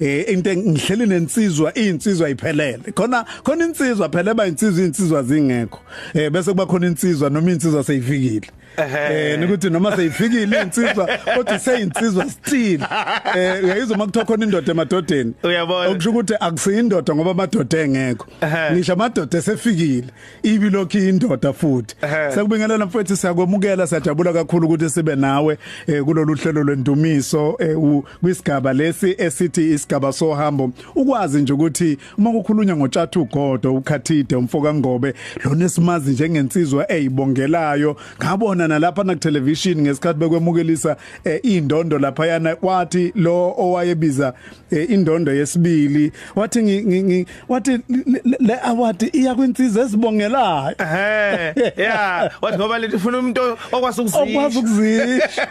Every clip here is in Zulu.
eh into ngihleli nensizwa insizwa iphelele khona khona insizwa phela ba insizwa insizwa zingekho eh bese kuba khona insizwa noma insizwa seyifikile eh nikuthi noma seyifikile insizwa kodwa seyinsizwa still eh uyayizwa makuthiwa khona indoda emadodeni uyabona okusho ukuthi akusiyindoda ngoba amadoda engekho ngisho amadoda esefikile ibi lokho indoda futhi sekubingelela mfethu siyakwemukela siyajabula kakhulu ukuthi sibe nawe eh, kulolu hlelo lwendumiso eh, kwisigaba lesi esithi isigaba sohambo ukwazi nje ukuthi uma kukhulunywa ngotshathu godo ukhathide umfoka ngobe lona esimazi njengensizwa eyibongelayo ngabona nalapha na television ngesikhathi bekwemukelisa eh, indondo lapha yana kwathi lo owayebiza eh, indondo yesibili wathi wathi le award iya kwinsizwa ezibongelayo ehe yeah wathi ngoba lethi ufuna umuntu okwazi ukuzisha okwazi ukuzisha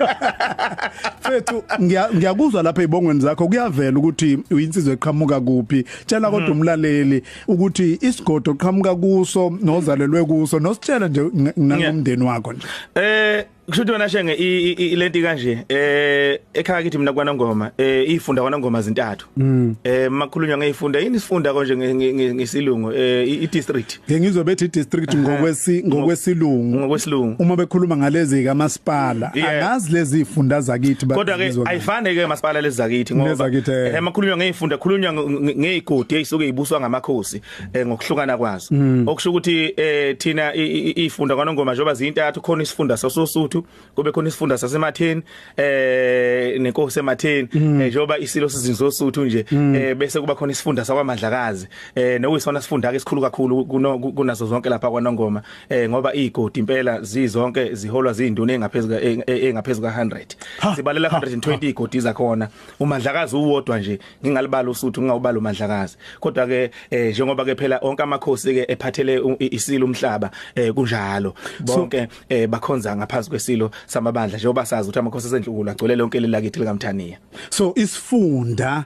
fethu ngiyakuzwa lapha ezibongweni zakho kuyavela ukuthi uyinsizwa eqhamuka kuphi tshela kodwa mm. umlaleli ukuthi isigodo oqhamuka kuso nozalelwe kuso nositshela nje nangomndeni wakho nje eh Kushuthi wena shenge ilenti kanje eh ekhaya kithi mina kwanongoma eh ifunda kwanongoma zintathu mm. eh makhulunywa ngeyifunda yini sifunda konje ngesilungu eh i district ngizwe bethi district ngokwesi ngokwesilungu ngokwesilungu uma bekhuluma ngalezi ka masipala angazi lezi ifunda zakithi kodwa ke ayifane ke masipala lezi zakithi ngoba eh makhulunywa ngeyifunda khulunywa ngeyigodi eyisuke ibuswa ngamakhosi eh ngokuhlukana kwazo mm. okusho ukuthi eh thina ifunda kwanongoma njengoba zintathu khona isifunda sasosuthu kube khona isifunda sasematheni eh nenkosi ematheni mm. eh, njengoba isilo sizinzosuthu nje mm. eh bese kuba khona isifunda sakwamadlakazi eh nowisona sifunda ke sikhulu kakhulu kunazo zonke lapha kwanongoma eh ngoba igodi impela zizonke ziholwa zinduna engaphezulu engaphezulu ka 100 sibalela 120 igodi zakhona umadlakazi uwodwa nje ngingalibala usuthu ngingawubala umadlakazi kodwa ke eh, njengoba ke phela onke amakhosi ke ephathele isilo umhlaba eh, kunjalo bonke eh, bakhonza ngaphansi kwesilo samabandla njengoba sazi ukuthi amakhosi esendlukulu agcwele lonke lelakithi likamthaniya so isifunda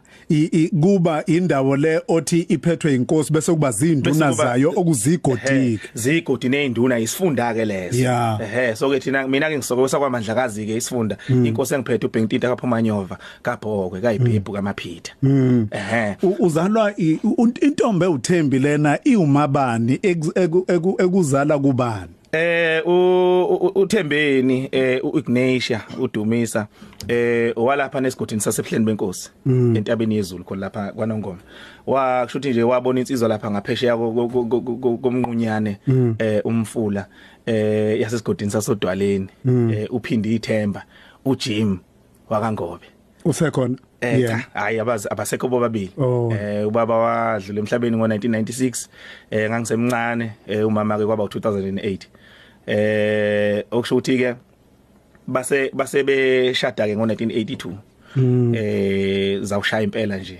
kuba indawo le othi iphethwe inkosi bese kuba zinduna zayo okuzigodiki zigodi nezinduna isifunda ke lezo ehe so ke thina mina ke ngisokosa kwamandlakazi ke isifunda hmm. inkosi engiphethe uBengtita kaPhumanyova kabhokwe kayibhebhu mm. kamaphitha mm. ehe uzalwa intombe uThembi lena iwumabani ekuzala kubani eh uThembeni eh uIgnatia uDumisa eh walapha nesigodini sasebuhleni benkosi mm. entabeni yezulu khona lapha kwaNongoma wakusho ukuthi nje wabona insizwa lapha ngaphesheya komnqunyane mm. eh umfula eh yasesigodini sasodwaleni mm. eh uphinde ithemba uJim wakangobe usekhona eh yeah. hayi abazi abasekho bobabili oh. eh ubaba wadlula emhlabeni ngo1996 eh ngangisemncane eh umama ke kwaba u2008 eh okusho ukuthi ke base base beshada ke ngo1982 mm. eh zawushaya impela nje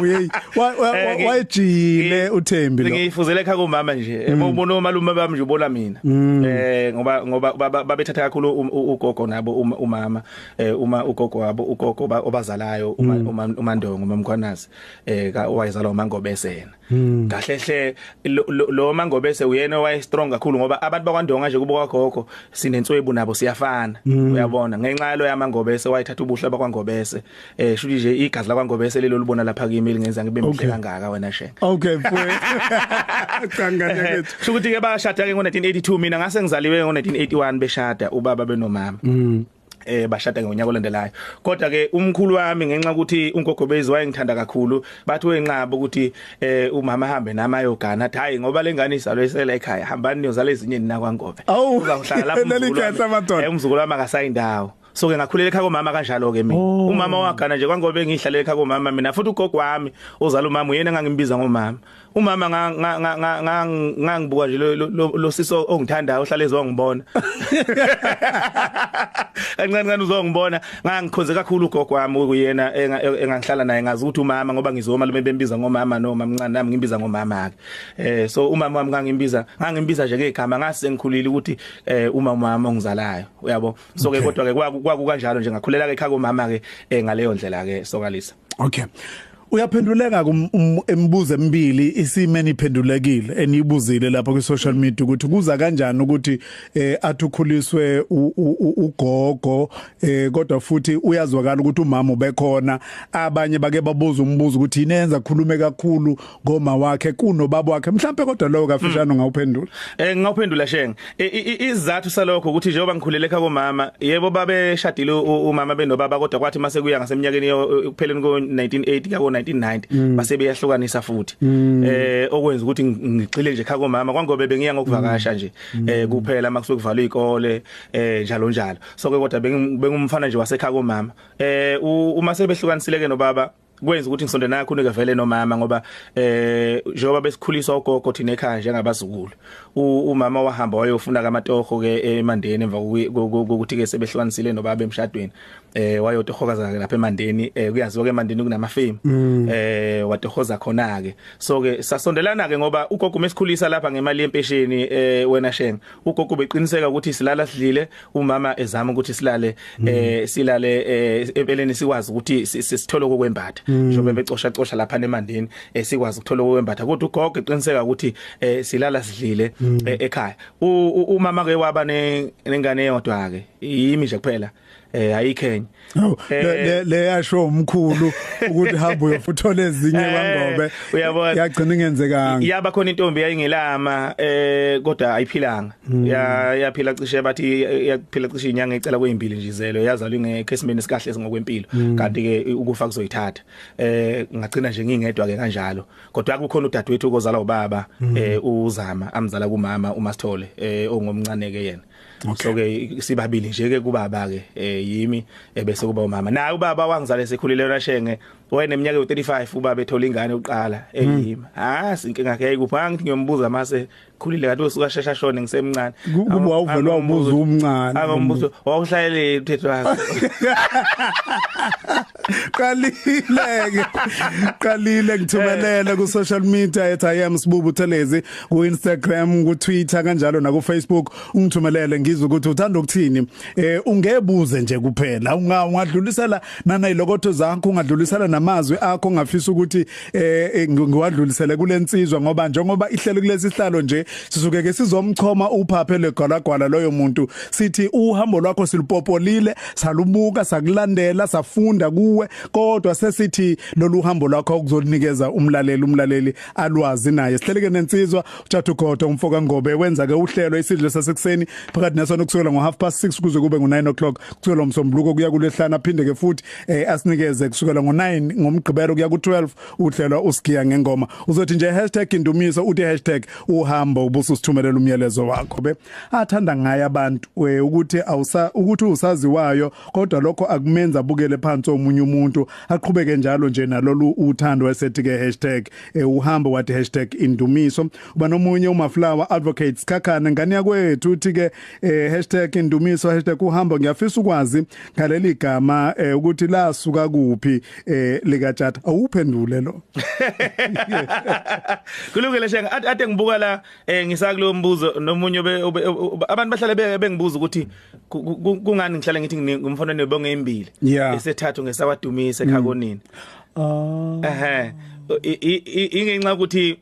Uyeyi eh, wayejile uThembi lo. Ngiyifuzele ekhaya kumama nje. Mm. Ubona omalume bami nje ubona mina. Mm. Eh ngoba ngoba babethatha kakhulu um, ugogo nabo um, umama eh uma ugogo wabo ugogo obazalayo uma mm. uMandongo uMamkhwanazi eh ka owayezalwa uMangobese yena. Hmm. kahle hle lo mangobese uyena owaye strong kakhulu ngoba abantu bakwandonga nje kubuka gogo sinenswebu nabo siyafana hmm. uyabona ngenxa yalo yamangobese wayithatha ubuhle bakwangobese eh shuthi nje igazi lakwangobese lelo libona lapha kimi lingenza ngibe mhle kangaka wena she okay mfowethu cangane eh, kethu shukuthi ke bashada ke ngo1982 mina ngase ngizaliwe ngo1981 beshada ubaba benomama hmm. eh bashada ngonyaka olandelayo kodwa ke umkhulu wami ngenxa ukuthi unkokho bezi wayengithanda kakhulu bathi wenqaba ukuthi eh umama hambe nami ayogana athi hayi ngoba lengane izalwe isela ekhaya hambani niyozala ezinye nina kwangobe uzangihlala lapho nelikhehla amadoda umzukulu wami akasayindawo so ke ngakhulela ekhaya komama kanjalo ke mina oh. umama wagana nje kwangobe ngihlalele ekhaya komama mina futhi ugogo wami ozala umama uyena engangimbiza ngomama umama ngangibuka nje lo sisi ongithandayo ohlale ezongibona kancane kancane uzongibona ngangikhonze kakhulu ugogo wami kuyena engangihlala naye ngazi ukuthi umama ngoba ngizoma lume bembiza ngomama no mamncane nami ngimbiza ngomama ke eh so umama wami ngangimbiza ngangimbiza nje ngegama ngase ngikhulile ukuthi eh uma umama ongizalayo uyabo so ke kodwa ke kwaku kanjalo nje ngakhulela ke ekhaya komama ke eh, ngaleyo ndlela ke sokalisa okay uyaphenduleka um, um, emibuzo emibili isimeni iphendulekile eniyibuzile lapha kwi social media ukuthi kuza kanjani ukuthi eh athukhuliswe ugogo eh kodwa futhi uyazwakala ukuthi umama ubekhona abanye bake babuza umbuzo ukuthi yini enza khulume kakhulu ngoma wakhe kuno baba wakhe mhlambe kodwa lowo kafishane hmm. ngawuphendula eh ngawuphendula shenge izathu salokho ukuthi njengoba ngikhulele ekhaya komama yebo babe shadile umama benobaba kodwa kwathi mase kuya ngaseminyakeni ekupheleni ko 1980 ka 1990 hmm. base beyahlukanisa futhi hmm. eh okwenza ukuthi ngigxile nje ekhaya komama kwangobe bengiya ngokuvakasha nje eh kuphela makusuke kuvalwa izikole eh njalo njalo so ke kodwa bengumfana nje wasekhaya komama eh uma sebehlukanisile ke nobaba kwenza ukuthi ngisonde nakho unike vele nomama ngoba eh njengoba besikhuliswa ugogo thina ekhaya njengabazukulu umama wahamba wayofuna kamatoho ke emandeni emva kokuthi ke sebehlukanisile nobaba emshadweni eh wayotohokaza ke lapha emandeni eh kuyaziwa ke emandeni kunama fame mm. eh watohoza khona ke so ke sasondelana ke ngoba ugogo mesikhulisa lapha ngemali yempesheni eh wena shenge ugogo beqiniseka ukuthi silala sidlile umama ezama ukuthi silale mm. eh silale eh, empeleni sikwazi ukuthi sisithole okwembatha mm. njengoba becosha cosha lapha nemandini eh, sikwazi ukuthola okwembatha kodwa ugogo eqiniseka ukuthi eh, silala sidlile mm. ekhaya umama ke waba nengane yodwa ke yimi nje kuphela eh ayikhenye oh, eh, le yasho umkhulu ukuthi hamba uyofuthola ezinye eh, kwangobe uyabona yagcina ingenzekanga yaba khona intombi yayingelama eh kodwa ayiphilanga hmm. ya yaphila cishe bathi yaphila cishe inyanga ecela kwezimbili nje izelo yazalwa ngeke esimeni sikahle ngokwempilo hmm. kanti ke ukufa kuzoyithatha eh ngagcina nje ngingedwa ke kanjalo kodwa kukhona udadewethu kozala ubaba hmm. eh uzama amzala kumama uMasithole eh ongomncane ke yena Okay. So ke sibabili nje ke kubaba ke eh yimi ebese kuba umama. Naye ubaba wangizale sekhulile yona shenge wena eminyaka yo35 ubaba ethola ingane uqala eyimi. Ah sinkinga yakhe ayikupha ngithi ngiyombuza mase khulile kanti usuka shesha shone ngisemncane. Kuba wawuvelwa umbuzo umncane. Akambuzo wawuhlalele uthetho wakhe. qalileke qalile ngithumelele eh. ku social media ethi i am sibubu thelezi ku Instagram ku Twitter kanjalo na ku Facebook ungithumelele ngizwe ukuthi uthanda ukuthini eh ungebuze nje kuphela ungadlulisela nana ilokotho zakho ungadlulisela namazwi akho ngafisa ukuthi eh, eh ngiwadlulisele kulensizwa ngoba njengoba ihlelo kulesi sihlalo nje sizuke ke sizomchoma uphaphe legwalagwala loyo muntu sithi uhambo lwakho silupopolile salubuka sakulandela safunda kuwe kodwa sesithi lolu hambo lwakho kuzonikeza umlaleli umlaleli alwazi naye sihleleke nensizwa uJathu Godo umfoka Ngobe wenza ke uhlelo isidlo sasekuseni phakathi nesona kusukela ngo half past 6 kuze kube ngo 9 o'clock kusukela umsombuluko kuya kulehlana phinde ke futhi eh asinikeze kusukela ngo9 ngomgqibelo kuya ku12 uhlelwa usigiya ngengoma uzothi nje #indumiso uthi #uhambo ubuso sithumelela umyalezo wakho be athanda ngaye abantu eh, ukuthi awusa ukuthi usaziwayo kodwa lokho akumenza bukele phansi omunye umuntu aqhubeke njalo nje nalolu uthando wesethi ke eh, uhambo wathi #indumiso uba nomunye umaflower advocates khakhana ngani yakwethu uthi ke eh hashtag indumiso hashtag uhambo ngiyafisa ukwazi ngaleli gama eh ukuthi lasuka kuphi eh lika chat awuphendule lo kulungile shenga ade ngibuka la eh ngisakulo mbuzo nomunye abantu bahlale bengibuza ukuthi kungani ngihlale ngithi ngumfana nebonge imbili esethathu ngesawadumisa ekhakonini mm. ah ehe ingenxa ukuthi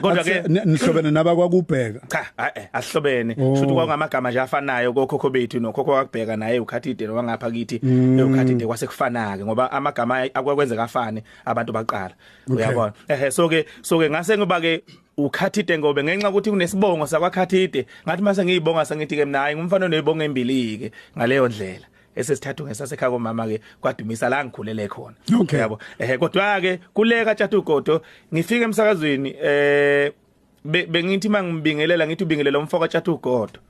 Kodwa ke nihlobene naba kwakubheka. Cha, eh ahlobene. Oh. Shuthi kwakungamagama nje afanayo kokhokho bethu nokhokho wakubheka naye ukhathide nowangapha kithi mm. ukhathide kwase kufana ke ngoba amagama akwakwenzeka afane abantu baqala. Uyabona. Ehhe so ke so ke ngase ngoba ke ukhathide ngobe ngenxa ukuthi kunesibongo sakwaKhathide ngathi mase ngiyibonga sengithi ke mina hayi ngumfana onezibongo embilike ngaleyo ndlela esesithathu ngesasekhaya komama ke kwadumisa la ngikhulele khona okay. yabo eh kodwa ke kuleka tshatu godo ngifike emsakazweni eh bengithi mangimbingelela ngithi ubingelela umfoko athathu godo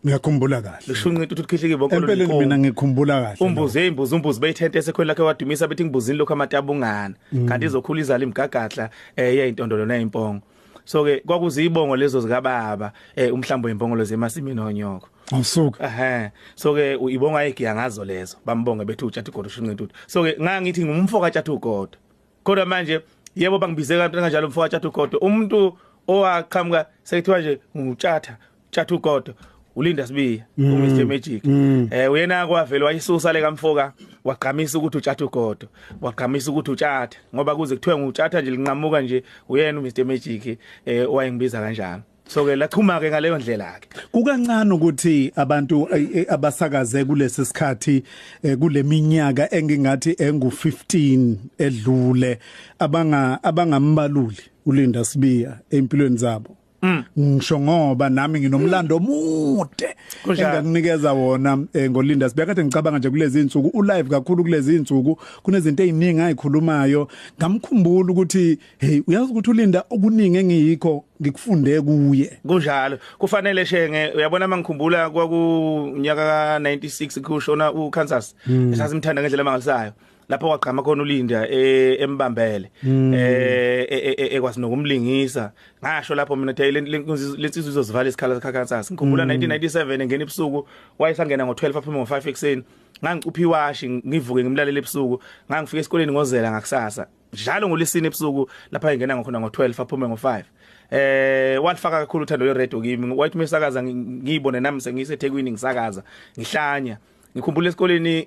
Ngiyakhumbula kahle. Lishunqita ukuthi ukhihlike bonke lo. Empeleni mina ngikhumbula kahle. Umbuze imbuzi umbuzi beyithente esekhweni lakhe wadumisa bethi ngibuzini lokho amatabungana. Mm. Kanti izokhula izala imgagadla eh yayintondolo nayimpongo. so ke kwakuzibongo lezo zikababa eh umhlambo wembongolo zemasimini onyoko awusuka ehe so ke uyibonga igiya ngazo lezo bambonge bethu utshatha igodo shinqintudu so ke ngangithi ngumfo katshatha ugodo kodwa manje yebo bangibize kanti kanjalo umfo katshatha ugodo umuntu owaqhamuka sekuthiwa nje ngutshatha Chathu Godo ulinda sibiya mm. u Mr Magic mm. eh uyena kwavela wayisusa le kamfoka wagqamisa ukuthi utshatha ugodo wagqamisa ukuthi utshatha ngoba kuze kuthiwe ngutshatha nje linqamuka nje uyena u Mr Magic eh owayengibiza kanjalo so ke lachuma ke ngaleyo ndlela ke kukancane ukuthi abantu eh, eh, abasakaze kulesi sikhathi eh, kuleminyaka engingathi engu 15 edlule abanga abangambaluli ulinda sibiya empilweni zabo Mm. ngisho ngoba nami nginomlando omude engakunikeza wona eh, ngolinda sibe kade ngicabanga nje kulezi insuku u live kakhulu kulezi insuku kunezinto eziningi ayikhulumayo ngamkhumbula ukuthi hey uyazi ukuthi ulinda okuningi engiyikho ngikufunde kuye kunjalo kufanele shenge uyabona mangikhumbula kwakunyaka ka 96 kushona u Kansas mm. sasimthanda ngendlela mangalisayo lapho kwagqama khona uLinda e, embambele hmm. eh, e, e, ekwazi nokumlingisa ngasho lapho mina the lensizwe izozivala isikhala sakhansasa ngikhumbula 1997 hmm. engena ebusuku wayesangena ngo12 aphuma ngo5 ekseni ngangicuphi washi ngivuke ngimlalele ebusuku ngangifika esikoleni ngozela ngakusasa njalo ngolesine ebusuku lapha engena ngakhona ngo12 aphume ngo5 eh walifaka kakhulu uthando lwe radio kimi wathi mesakaza ngiyibone nami sengisethekwini ngisakaza ngihlanya ngikhumbula esikoleni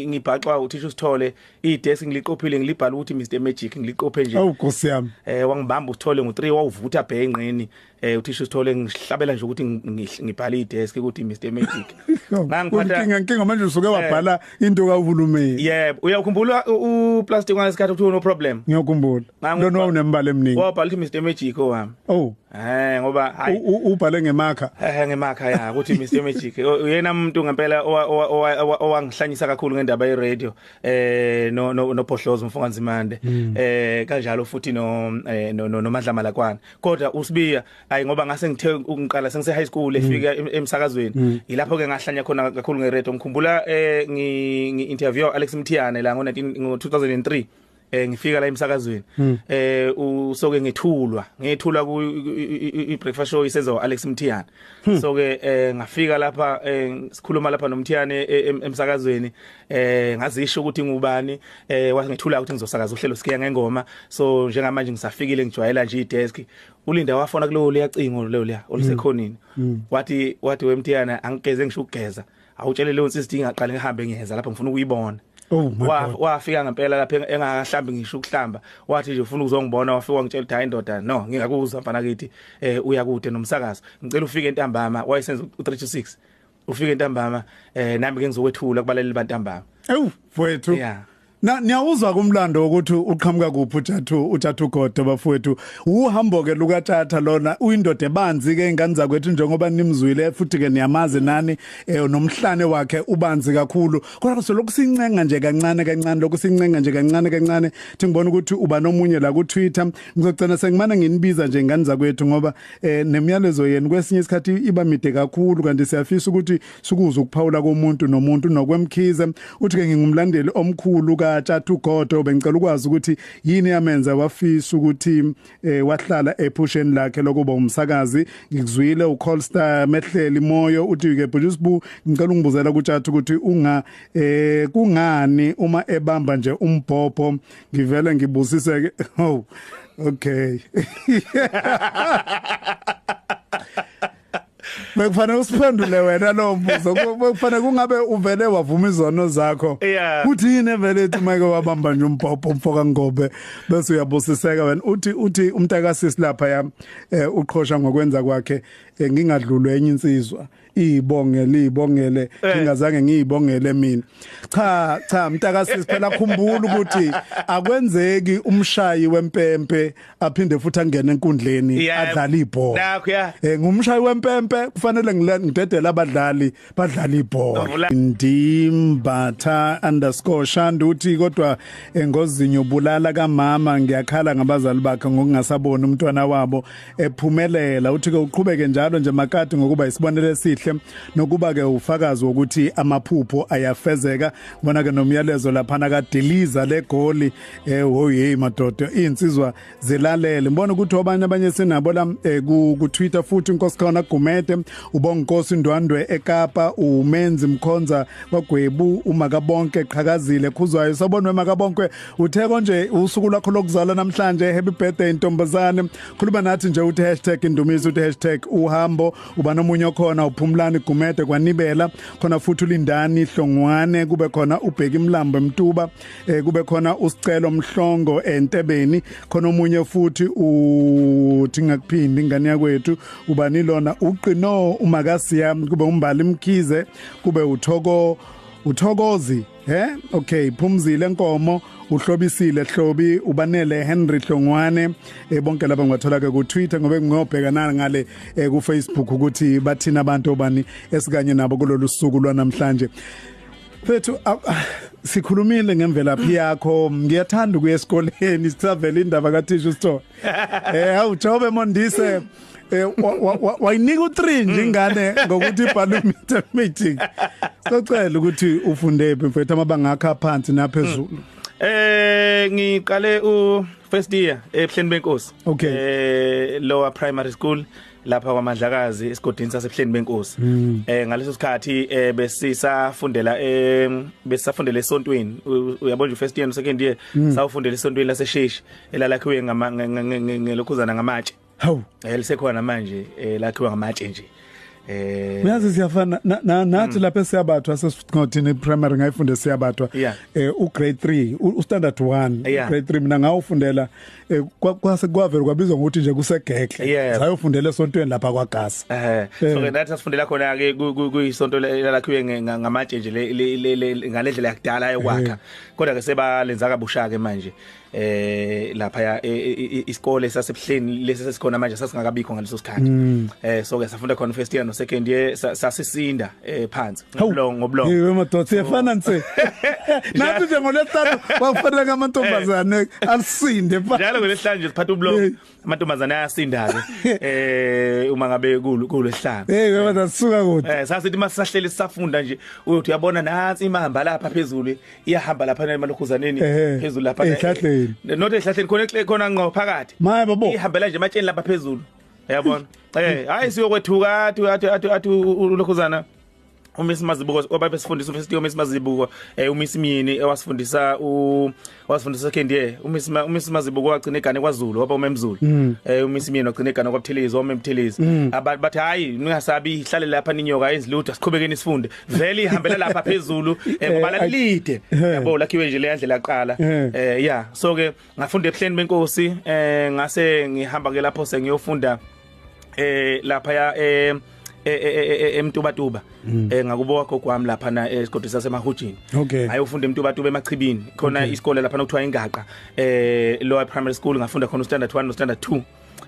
ngibhaxwa uthisha usithole idesk ngiliqophile ngilibhala ukuthi Mr Magic ngiliqophe nje awu nkosi yami eh wangibamba usithole ngo3 wawuvutha bhe enqeni eh uthisha usithole ngihlabela nje ukuthi ngibhala idesk ukuthi Mr Magic ngangiphatha inkinga inkinga manje usuke eh. wabhala into kahulumeni yebo uyakhumbula u plastic wanesikhathi ukuthi no problem ngiyakhumbula lona unembala eminingi wabhala ukuthi Mr Magic owami oh Eh ngoba hayi ubhale ngemakha. Eh ngemakha ya ukuthi Mr Magic uyena umuntu ngempela owangihlanyisa kakhulu ngendaba ye radio eh no no Pohlozo mfoka Nzimande hmm. eh kanjalo futhi no eh, no noMandla Malakwana kodwa uSibiya hayi ngoba ngase ngithe ukungiqala sengise high school hmm. efika emsakazweni hmm. yilapho ke ngahlanya khona kakhulu nge radio ngikhumbula eh ngi interview Alex Mthiyane la ngo 2003 eh ngifika la emsakazweni hmm. eh usoke ngethulwa ngethulwa ku i breakfast show isenzo Alex Mthiyane hmm. so ke eh ngafika lapha eh, sikhuluma lapha nomthiyane eh, emsakazweni eh ngazisho ukuthi ngubani eh wangethula ukuthi ngizosakaza uhlelo sikiya ngengoma so njengamanje ngisafikile ngijwayela nje idesk ulinda wafona kulo liyacingo lelo liya olisekhonini hmm. wathi wathi wemthiyana angigeze ngisho ukugeza awutshele leyo nsizwa ingaqale ngihambe ngiyeza lapha ngifuna ukuyibona Oh my God. Wafika ngempela lapha engakahlambi ngisho ukuhlamba. Wathi nje ufuna ukuzongibona wafika wangitshela ukuthi hayi ndoda no ngingakuzwa mfana kithi eh uya kude nomsakazo. Ngicela ufike entambama wayesenza u326. Ufike entambama eh nami ngizokwethula kubaleli bantambama. Ewu mfowethu. Yeah. Na niyawuzwa kumlando ukuthi uqhamuka kuphi uJathu uJathu Godo bafowethu uhambo ke luka Tata lona uyindoda ebanzi ke ingane zakwethu njengoba nimzwile futhi ke niyamazi nani eh, nomhlane wakhe ubanzi kakhulu kodwa so lokusincenga nje kancane kancane lokusincenga nje kancane kancane thi ngibona ukuthi uba nomunye la ku Twitter ngizogcina sengimana nginibiza nje ingane zakwethu ngoba eh, nemyalezo yenu kwesinye isikhathi iba mide kakhulu kanti siyafisa ukuthi Sukuza ukuphawula komuntu nomuntu nokwemkhize uthi ke ngingumlandeli omkhulu ka Tjathu Godo bengicela ukwazi ukuthi yini yamenza wafisa ukuthi eh, wahlala ephusheni lakhe lokuba umsakazi ngikuzwile uColstar mehleli moyo uthi ke Bhujisbu ngicela ungibuzela ku Tjathu ukuthi unga eh kungani uma ebamba nje umbhobho ngivele ngibusiseke oh okay Bekufanele usiphendule wena lo mbuzo. Bekufanele kungabe uvele wavuma izono zakho. Kuthi yini evele ethi make wabamba nje umbhobho umfoka Ngobe bese uyabusiseka wena. Uthi uthi umntakasisi lapha ya eh, uqhosha ngokwenza kwakhe eh, ngingadlulwe enye insizwa. Ibongele ibongele eh. ngingazange ngiyibongele mina. Cha cha mntakasisi phela khumbula ukuthi akwenzeki umshayi wempempe aphinde futhi angene enkundleni Yeah. adlale ibhola Nakho, yeah. eh ngumshayi wempempe kufanele ngile- ngidedele abadlali badlala ibhola Vula. ndimbatha underscore shanda uthi kodwa eh, ngozinyo bulala kamama ngiyakhala ngabazali bakhe ngokungasaboni umntwana wabo ephumelela uthi ke uqhubeke njalo nje makati ngokuba isibonelo esihle nokuba ke ufakazi wokuthi amaphupho ayafezeka bona ke nomyalezo laphana kadiliza legoli eh wo hey madoda insizwa zilalele ngibona ukuthi obanye abanye sinabo la eh, ku, ku Twitter futhi inkosi khona Gumede ubonkosi Ndwandwe eKapa umenzi mkhonza kwagwebu umakabonke qhakazile khuzwayo sabonwe makabonke uthe konje usuku lakho lokuzala namhlanje happy birthday ntombazane khuluma nathi nje uthi hashtag indumiso uthi hashtag uhambo uba nomunye okhona uphumlani Gumede kwanibela khona futhi ulindani hlongwane kube khona ubheki mlambo emtuba eh kube khona usicelo mhlongo entebeni khona omunye futhi uthi ngakuphindi ingane yakwethu ubani lona uqino umakasiya kube umbali mkhize kube uthoko uthokozi he okay phumzile nkomo uhlobisile hlobi ubanele Henry Hlongwane eh, bonke laba ngibathola ke ku Twitter ngobe ngiyobhekana ngale eh, ku Facebook ukuthi bathina abantu obani esikanye nabo kulolu suku lwanamhlanje Mfethu sikhulumile ngemvelaphi yakho ngiyathanda ukuya esikoleni sisavela indaba kathisha usithola eh awujobe mondise eh wayinika u3 nje ingane ngokuthi parliamentary meeting sicela ukuthi ufunde phi mfethu amabanga akhe aphansi naphezulu Eh ngiqale u first year ebuhleni benkosi. Okay. Eh lower primary school lapha kwaMandlakazi esigodini saseBuhleni benkosi mm. eh ngaleso sikhathi eh besisafundela eh besisafundela esontweni uyabona nje first year no second year mm. sawufundela esontweni lasesheshi elalakhiwe ngama ngelokhuzana ngamatshe hawu eh lisekhona manje eh lakhiwa ngamatshe nje eh uyazi siyafana nathi mm. lapha esiyabathwa sesithothini primary ngayifunde siyabathwa eh u grade 3 u standard 1 grade 3 mina ngawufundela eh, kwase kwavela kwabizwa ngokuthi nje kusegekle yeah. sayofundela esontweni lapha kwaGasa eh so eh. ke nathi sifundela khona ke kuyisonto lakhiwe ngamatshe nje ngalendlela yakudala yokwakha eh. kodwa ke sebalenza kabusha ke manje eh lapha ya e, e, e, isikole sasebuhleni lesi sesikhona manje sasingakabikho ngaleso sikhathi mm. eh so ke safunda khona first year no second year sasisinda eh phansi ngobulongo ngobulongo yiwe madoda siyefana nse nathi nje ngolesihlanu kwakufanele amantombazane eh. asinde phansi njalo ngolesihlanu nje siphatha ubulongo eh. amantombazane ayasinda ke eh uma ngabe kulo kulo esihlanu hey baba sasuka kude eh sasithi masisahleli sisafunda nje uyothi uyabona nansi imahamba lapha phezulu iyahamba lapha emalokhuzaneni eh. phezulu lapha ehlahleni not ehlahleni khona khona ngqo phakathi ihambela nje ematsheni lapha phezulu yabona eh hayi siyokwethuka athi athi athi athi ulokhuzana uMiss Mazibuko obabe sifundisa uMiss Tiyo Miss Mazibuko eh uMiss Myini ewasifundisa u wasifundisa Kendie uMiss uMiss Mazibuko wagcina igane kwaZulu waba uMemzulu mm. eh uMiss Myini wagcina igane kwaButhelezi waMemthelezi mm. abantu bathi hayi ningasabi ihlale lapha ninyoka ezilutha siqhubekeni sifunde vele ihambela lapha phezulu eh, eh kubala lide eh. yabo lakhiwe nje le yandlela yaqala eh ya so ke ngafunda ebuhleni benkosi eh ngase ngihamba ke lapho sengiyofunda eh lapha ya eh emtubatuba eh ngakubo wakho kwami lapha na esigodini sasemahujini ayofunda emtubatuba emachibini khona isikole lapha nokuthiwa ingaqa eh lower primary school ngafunda khona standard 1 no standard 2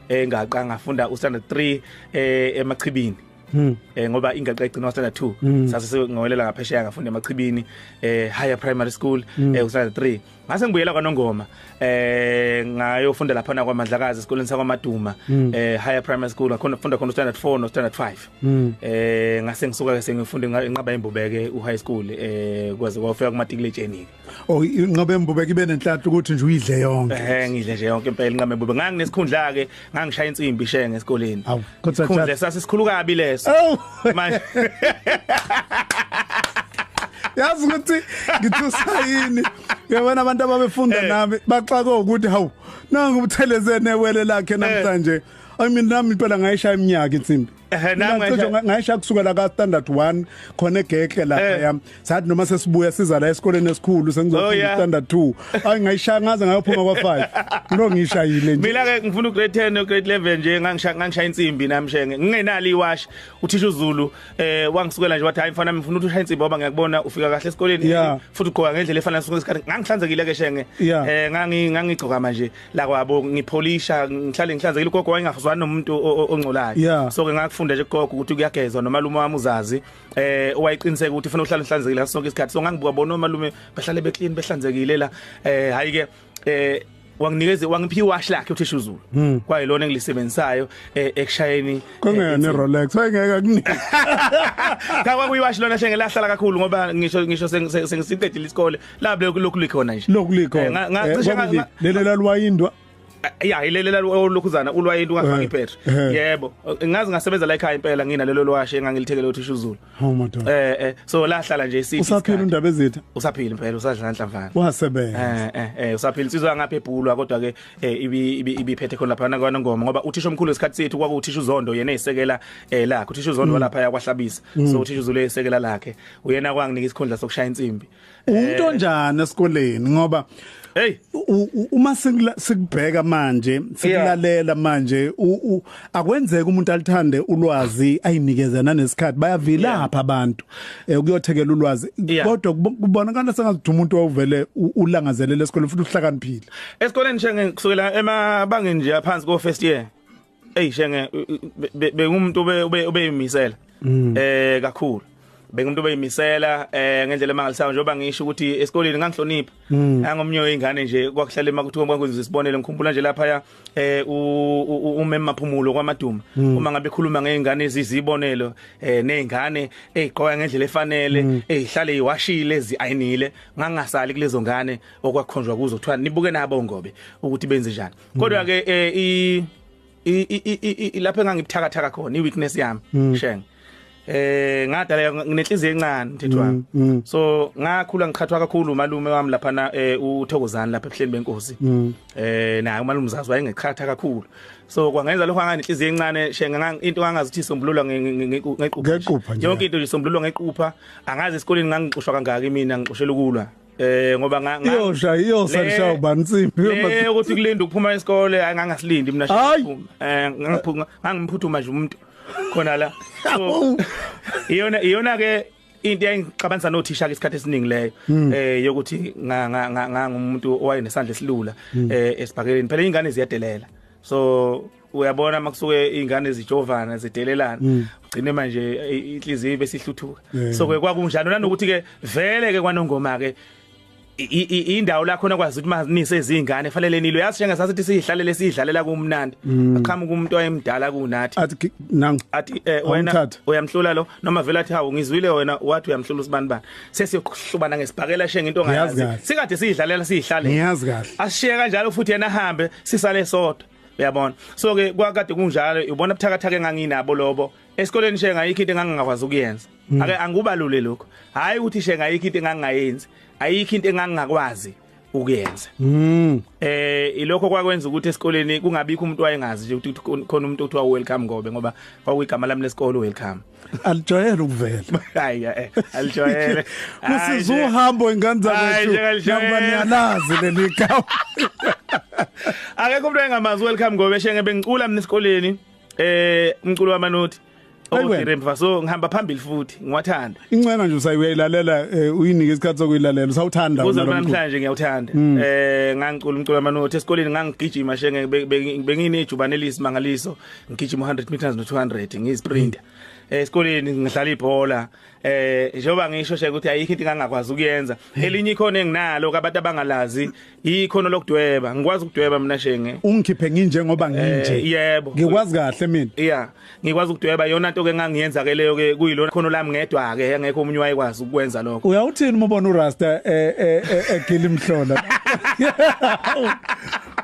eh ngaqa ngafunda u standard 3 eh emachibini Hmm. Eh ngoba ingaqa igcina standard 2 hmm. sase ngowelela ngaphesheya ngafunda emachibini eh higher primary school hmm. eh u standard 3 ngase ngibuyela kwanongoma eh ngayofunda lapha na kwaMadlakazi esikoleni sakwaMaduma mm. eh higher primary school akhona funda khona standard 4 no standard 5 mm. eh ngase ngisuka ke sengifunde inqaba imbubeke u high school eh kwaze kwafika kumatikilejeni oh inqaba imbubeke ibe nenhlanhla ukuthi nje uyidle yonke eh ngidle nje yonke impela inqaba imbubeke nganginesikhundla ke ngangishaya insimbi shenge esikoleni khundle sasisikhulu kabi leso manje yazi ukuthi ngithusa yini yabona abantu ababefunda eh. nami baxaka ukuthi hawu nangu ubuthelezene wele lakhe eh. namhlanje I mean nami impela ngayishaya iminyaka insimbi Ehhe nami Mina cishe ngisho- ngayisha kusukela ka standard 1 khona egekle lapha Eh. yami sathi noma sesibuya siza la esikoleni esikhulu Oh, sengizofunda yeah. standard 2 ayi ngayishaya ngaze ngayophuma kwa 5 ngilo ngishayile nje Mina ke ngifuna ugrade 10 ugrade 11 nje ngangisha ngangishaya insimbi nami shenge ngingenali iwash uthisha uZulu eh wangisukela nje wathi hayi mfana ngifuna ukuthi ushaya insimbi ngoba ngiyakubona ufika kahle esikoleni Yeah. futhi ugqoka ngendlela efana ngesikhathi ngangihlanzekile ke shenge Yeah. eh ngangi ngangigcoka manje la kwabo ngipholisha ngihlale ngihlanzekile ugogo wayengazwani nomuntu ongcolayo yeah. so ke ngakufunda nje gogo ukuthi kuyagezwa nomalume wami uzazi eh owayiqiniseka ukuthi ufuna uhlale uhlanzekile ngaso sonke isikhathi so ngangibuka bona omalume bahlale be clean behlanzekile la eh hayi ke eh wanginikeze wangiphi wash lakhe uthisha uzulu hmm. kwayilona engilisebenzisayo eh, ekushayeni kungena eh, ne Rolex wayengeka kunika kakwa kuyiwash lona hlengela hlala kakhulu ngoba ngisho ngisho sengisiqedile isikole labe lokhu likhona nje lokhu likhona eh, ngacishe eh, lelo lalwayindwa eh, ya ilelela lokhuzana ulwayinto ungafaki iphetho yebo ngazi ngasebenza la ekhaya impela ngina lelo lwashe engangilithekele uthisha uzulu oh madoda eh eh so lahlala nje isithi usaphila undaba ezitha usaphila impela usadlala nhlamvana wasebenza eh eh usaphila insizwa ngapha ebhulwa kodwa ke ibi ibiphethe khona lapha nakwana ngoma ngoba uthisha omkhulu esikhathi sethu kwaku uthisha uzondo yena esekela lakhe uthisha uzondo mm. lapha yakwahlabisa mm. so uthisha uzulu esekela lakhe uyena kwanginika isikhundla sokushaya insimbi Umuntu eh. onjani esikoleni ngoba Hey uma sikubheka manje sikulalela manje akwenzeka umuntu alithande ulwazi ayinikeze nanesikhathi bayavilapha abantu eh, ukuyothekela ulwazi kodwa kubonakala sengathi umuntu owuvele ulangazelele esikoleni futhi uhlakaniphile esikoleni nje kusukela emabangeni nje aphansi ko first year Ey shenge bengumuntu ube ubeyimisela mm. eh kakhulu bengumuntu obeyimisela eh ngendlela emangalisayo njengoba ngisho ukuthi esikoleni ngangihlonipha hmm. ngangomnye weingane nje kwakuhlala emakuthiwa kwakuze isibonele ngikhumbula nje lapha ya eh umema maphumulo kwamaduma hmm. uma ngabe khuluma ngeingane ezizibonelo eh neingane eziqoka ngendlela efanele hmm. ezihlale iwashile eziayinile ngangasali kulezo ngane okwakhonjwa kuzo kuthiwa nibuke nabo ngobe ukuthi benze njani kodwa ke eh, i lapho engangibuthakathaka khona i weakness yami mm. shenge eh ngadala nginenhliziyo encane mthetho wami mm, mm. so ngakhula ngiqhathwa kakhulu umalume wami lapha na eh, uthokozani lapha ebuhleni benkosi mm. eh naye umalume uzazi wayengeqhatha kakhulu so kwangenza lokho anganenhliziyo encane shenga into angazithi sombululo ngequpha ngequpha yonke into isombululo ngequpha angazi esikoleni ngangixoshwa kangaki mina ngixoshela ukulwa Eh ngoba nga iyosha iyosa lishawa ubani insimbi eh ukuthi kulinda ukuphuma isikole angangasilindi mina shaqhuma eh ngangiphuma ngangimphutuma nje umuntu khona la iyona iyona ke into engixabanisa nothisha ke isikhathi esiningi leyo hmm. eh yokuthi ngangumuntu owayenesandla esilula hmm. eh esibhakeleni phela ingane ziyadelela so uyabona makusuke izingane zijovana zidelelana mm. ugcine manje inhliziyo bese ihluthuka so ke kwakunjalo nanokuthi ke vele ke kwanongoma ke indawo la khona kwazi ukuthi manise izingane fanele nilo yazi njenga sasithi sihlalele sidlalela kumnandi mm. aqhamuka umuntu oyemdala kunathi athi nangu athi eh, wena uyamhlula lo noma vele athi hawu ngizwile wena wathi uyamhlula usibani bani sesiyohlubana ngesibhakela shenge into ngayazi sikade sidlalela sihlale ngiyazi kahle ashiye kanjalo futhi yena hambe sisale sodwa uyabona so ke kwakade kunjalo ubona ubuthakathaka enganginabo lobo esikoleni she ngayikho into engangingakwazi ukuyenza hmm. ake angubalule lokho hayi ukuthi she ngayikho into engangingayenzi ayikho into engangingakwazi ukuyenza mm eh ilokho kwakwenza ukuthi esikoleni kungabikho umuntu wayengazi nje ukuthi khona umuntu othiwa welcome ngobe ngoba kwakuyigama lami lesikole welcome alijwayele ukuvela hayi eh, alijwayele kusiza uhambo ingane zakwethu ngoba niyalazi leli gama akekho umuntu engamazi welcome ngobe shenge bengicula mina esikoleni eh umculo wamanothi Okudire mfaso ngihamba phambili futhi ngiwathanda. Incena nje usayilalela eh, uyinike isikhathi sokuyilalela usawuthanda wena. Namhlanje ngiyawuthanda. Hmm. Eh ngangicula umculo wamanothi esikoleni ngangigijima shenge benginejubane elisimangaliso ngigijima 100 meters no 200 ngizisprint eh esikoleni ngidlala ibhola eh njengoba ngisho nje ukuthi ayikho into engangakwazi ukuyenza elinye ikhono enginalo abantu abangalazi ikhono lokudweba ngikwazi ukudweba mina shenge ungikhiphe nginje ngoba eh, nginje yebo ngikwazi kahle mina yeah ngikwazi ukudweba yona into ke ngangiyenza ke leyo ke kuyilona khono lami ngedwa ke engekho umunye wayekwazi ukwenza lokho uyawuthini uma ubona urasta eh eh, eh, eh gila imhlola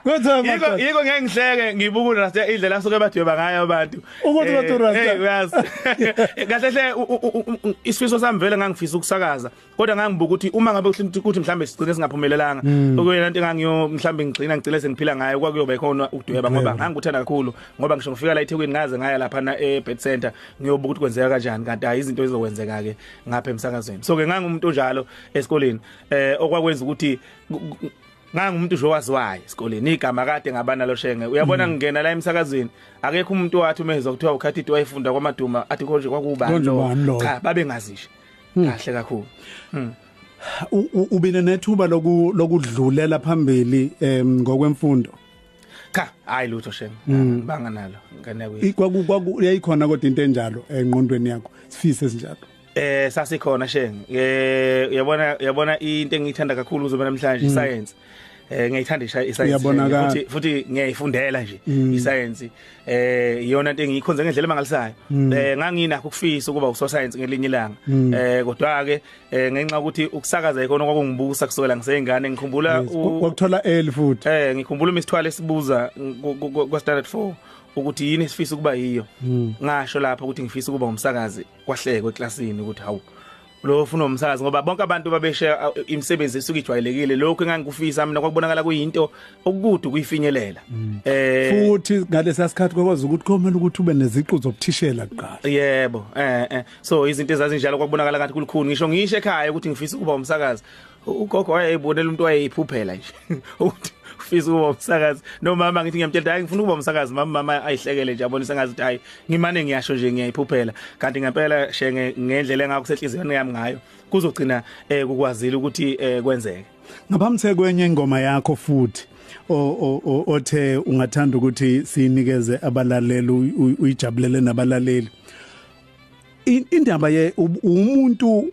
Kodwa Yiko madoda. yiko ngeke ngihleke ngibuka uRasta indlela asuke badweba ngayo abantu. Ukuthi Eh, bathi uRasta. eh, uyazi. Kahle hle u- u- u- u- isifiso sami vele ngangifisa ukusakaza kodwa ngangibuka ukuthi uma ngabe ukuthi ukuthi mhlambe sigcine singaphumelelanga Hmm. okuyena into engangiyo mhlambe ngigcina ngigcine sengiphila ngayo kwakuyoba ikhona ukudweba ngoba ngangikuthanda kakhulu ngoba ngisho ngifika la eThekwini ngaze ngaya lapha na eBed Center ngiyobuka ukuthi kwenzeka kanjani kanti hayi izinto ezizokwenzeka ke ngapha emsakazweni so ke ngangumuntu onjalo esikoleni eh okwakwenza ukuthi ku- ku- ngangumuntu nje owaziwayo esikoleni igama kade ngaba nalo shenge uyabona mm. ngingena la emsakazweni akekho umuntu wathi uma ezwa kuthiwa ukhathi ithi wayefunda kwamaduma athi konje kwakuba cha babengazisho mm. kahle kakhulu mm. ubine nethuba lokudlulela phambili ngokwemfundo cha hayi lutho shenge mm. banga nalo ngane kwaku kwaku yayikhona kodwa into enjalo enqondweni yakho sifise sinjalo eh sasikhona shenge eh uyabona uyabona into engiyithanda kakhulu uzoba namhlanje mm. science eh ngiyithanda isayensi futhi futhi ngiyayifundela nje mm. isayensi eh iyona into engiyikhonze ngendlela emangalisayo mm. eh nganginakho ukufisa ukuba usosayensi ngelinye ilanga mm. eh kodwa ke eh, ngenxa ukuthi ukusakaza ikona kwakungibusa kusukela ngiseyingane ngikhumbula ukuthola eli futhi eh ngikhumbula imisithwalo esibuza kwa standard 4 ukuthi yini esifisa ukuba yiyo ngasho lapha ukuthi ngifisa ukuba umsakazi kwahlekwe eklasini ukuthi hawu lo ufuna umsakazi ngoba bonke abantu babeshe imisebenzi esuke ijwayelekile lokho engangikufisa mina kwakubonakala kuyinto okukude kuyifinyelela mm. eh futhi ngalesa sikhathi kwakwazi ukuthi komele ukuthi ube neziqu zobuthishela kuqala yebo eh eh so izinto ezazinjalo kwakubonakala ngathi kulikhuni ngisho ngisho ekhaya ukuthi ngifisa ukuba umsakazi ugogo wayeyibonela umuntu wayeyiphuphela nje ukuthi ufisa ukuba umsakazi nomama ngithi ngiyamtshela hayi ngifuna ukuba umsakazi mama mama ayihlekele nje abonisa ngazi ukuthi hayi ngimane ngiyasho nje ngiyayiphuphela kanti ngempela shenge ngendlela engakusehlizweni yami ngayo kuzogcina eh kukwazile ukuthi eh kwenzeke ngabamthe kwenye ingoma yakho futhi othe ungathanda ukuthi sinikeze abalaleli uyijabulele nabalaleli indaba ye umuntu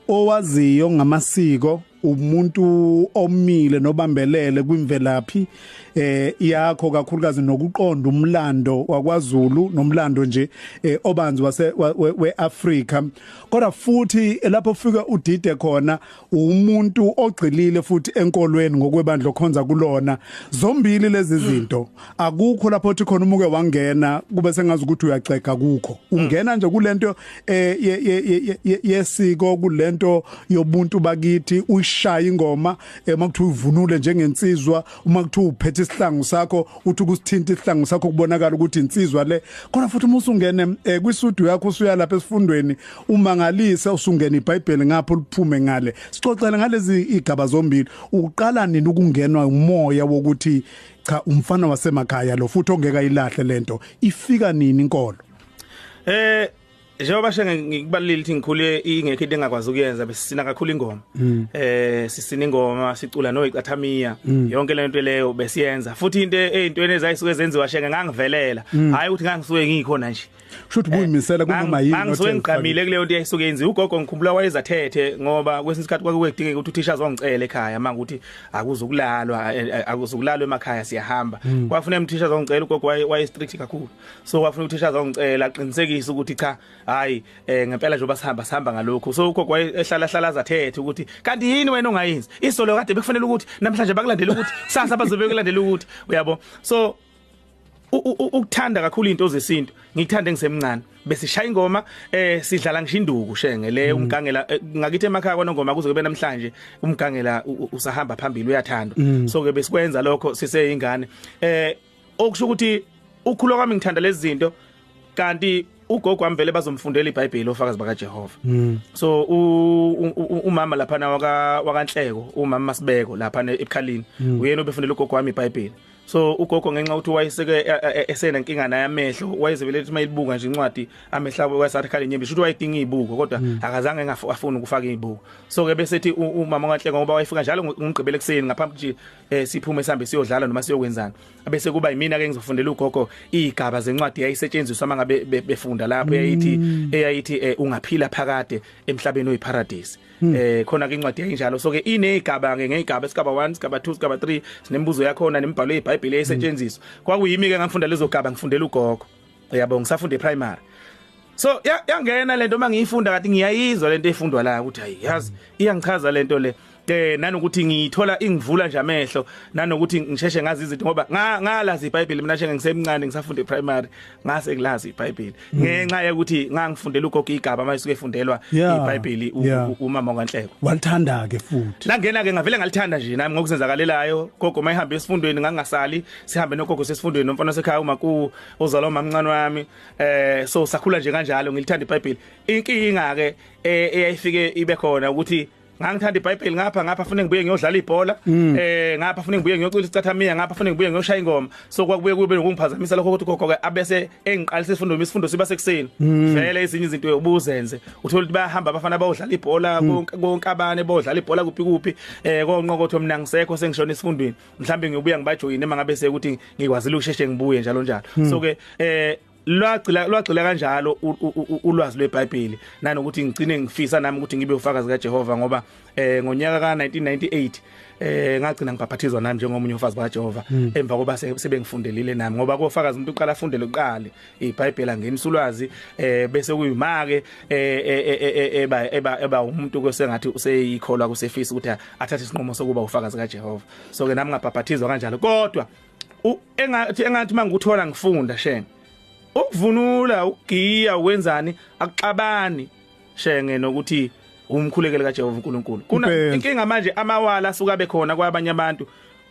owaziyo ngamasiko umuntu omile nobambelele kwimvelaphi eh yakho kakhulukazi nokuqonda umlando wakwaZulu nomlando nje eh, obanzi wase weAfrika kodwa futhi lapho ufika udide khona umuntu ogxilile futhi enkolweni ngokwebandla okhonza kulona zombili lezi zinto akukho lapho othi khona umuke wangena kube sengazi ukuthi uyaxega kukho ungena nje kulento eh, yesiko kulento yobuntu bakithi uyishaya ingoma eh, uma kuthiwa uvunule njengensizwa uma kuthiwa uphethe isihlangu sakho uthi kusithinta isihlangu sakho kubonakala ukuthi insizwa le khona futhi uma usungene eh, kwisudu yakho usuya lapha esifundweni umangalise usungena iBhayibheli ngapho liphume ngale sixoxele ngalezi igaba zombili uqala nini ukungenwa umoya wokuthi cha umfana wasemakhaya lo futhi ongeka ilahle lento ifika nini inkolo eh njengoba shenge ngikubalile ukuthi ngikhule ingekho into engakwazi ukuyenza besisina kakhulu ingoma mm. eh sisina ingoma sicula no icathamiya mm. yonke le nto leyo besiyenza futhi into ezintweni ezayisuke zenziwa shenge ngangivelela mm. hayi ukuthi ngangisuke ngikhona nje Shuthi kuyimisela kunoma yini ngizwe ngiqamile kuleyo nto yayisuke yenziwa ugogo ngikhumbula wayezathethe ngoba kwesinye isikhathi kwake kwedingeka ukuthi uthisha azongicela ekhaya manje ukuthi akuzukulalwa eh, eh, akuzukulalwa emakhaya siyahamba hmm. kwafuna umthisha azongicela ugogo waye strict kakhulu so kwafuna uthisha azongicela aqinisekise ukuthi cha hayi eh, ngempela nje basihamba sihamba ngalokho so ugogo wayehlala hlala azathethe ukuthi kanti yini wena ongayenzi isolo kade bekufanele ukuthi namhlanje bakulandele ukuthi sasa bazobe kulandela ukuthi uyabo so ukuthanda kakhulu izinto zesintu ngikuthande ngisemncane bese shaya ingoma eh sidlala ngisho induku shenge le mm. umgangela eh, ngakithi emakhaya kona ngoma kuze kube namhlanje umgangela usahamba phambili uyathandwa mm. so ke besikwenza lokho siseyingane eh okusho ukuthi ukhula kwami ngithanda lezi zinto kanti ugogo wami vele bazomfundela iBhayibheli ofakazi bakaJehova mm. so umama lapha na waka wakanhleko umama Masibeko lapha eBukhalini mm. uyena obefundela ugogo wami iBhayibheli so ugogo ngenxa ukuthi wayeseke e, e, e, esena inkinga naye amehlo wayezebele ukuthi mayibuka nje incwadi amehla wayesathi khale nyembe shuthi wayedinga izibuko kodwa mm. akazange engafuni ukufaka izibuko so ke bese ethi umama kaNhleko ngoba wayefika njalo ngomgqibelo ekseni ngaphambi nje eh, siphume sihambe siyodlala noma siyokwenzana bese kuba yimina ke ngizofundela ugogo izigaba zencwadi yayisetshenziswa mangabe befunda lapho yayithi mm. eyayithi eh, ungaphila phakade emhlabeni oyiparadise Hmm. eh khona ke incwadi enjalo so ke inezigaba ke ngezigaba isigaba 1 isigaba 2 isigaba 3 sinembuzo yakho na nemibhalo yeBhayibheli esetshenziswa hmm. kwakuyimi ke ngangifunda lezo gaba ngifundela ugogo yabo ngisafunda ePrimary so yangena lento uma ngiyifunda kathi ngiyayizwa lento efundwa la ukuthi hayi yazi iyangichaza lento le eh nanokuthi ngiyithola ingivula nje amehlo nanokuthi ngisheshe ngazi izinto ngoba ngalazi iBhayibheli mina nje ngisemncane ngisafunda ePrimary ngase ngilazi iBhayibheli mm. ngenxa yokuthi ngangifundela ugogo igaba manje suke fundelwa iBhayibheli umama kaNhleko walithanda ke futhi langena ke ngavele ngalithanda nje nami ngokuzenzakalelayo gogo mayihamba esifundweni ngangasali sihambe nogogo sesifundweni nomfana sekhaya umaku ozalwa umamncane wami eh so sakhula nje kanjalo ngilithanda iBhayibheli inkinga ke eh, eyayifike ibe khona ukuthi ngangithanda iBhayibheli ngapha ngapha fune ngibuye ngiyodlala ibhola mm. eh ngapha fune ngibuye ngiyocula isicathamia ngapha fune ngibuye ngiyoshaya ingoma so kwakubuye kube nokungiphazamisa lokho ukuthi gogo ke abese engiqalisa isifundo isifundo siba sekuseni mm. vele izinye izinto ubuzenze uthola ukuthi bayahamba abafana bayodlala ibhola mm. konke konke abane bodlala ibhola kuphi kuphi eh konqokotho mina ngisekho sengishona isifundweni mhlawumbe ngiyobuya ngibajoyine mangabe sekuthi ngikwazile ukusheshe ngibuye njalo njalo so ke eh lwagcila lwagcila kanjalo ulwazi lweBhayibheli nanokuthi ngicine ngifisa nami ukuthi ngibe ufakazi kaJehova ngoba eh ngonyaka ka 1998 eh ngagcina ngibhaphathizwa nami njengomunye ufazi bakaJehova hmm. emva koba sebengifundelile nami ngoba kofakazi umuntu uqala afunde lokuqala iBhayibheli angenisa ulwazi eh bese kuyimake eh, eh, eh, eba eba eba umuntu kwesengathi useyikholwa kusefisa ukuthi athathe isinqumo sokuba ufakazi kaJehova so ke nami ngabhaphathizwa kanjalo kodwa engathi engathi mangikuthola ngifunda shenge ukuvunula ugiya wenzani akuxabani shenge nokuthi umkhulekele kaJehova uNkulunkulu kuna inkinga manje amawala asuka bekhona kwabanye abantu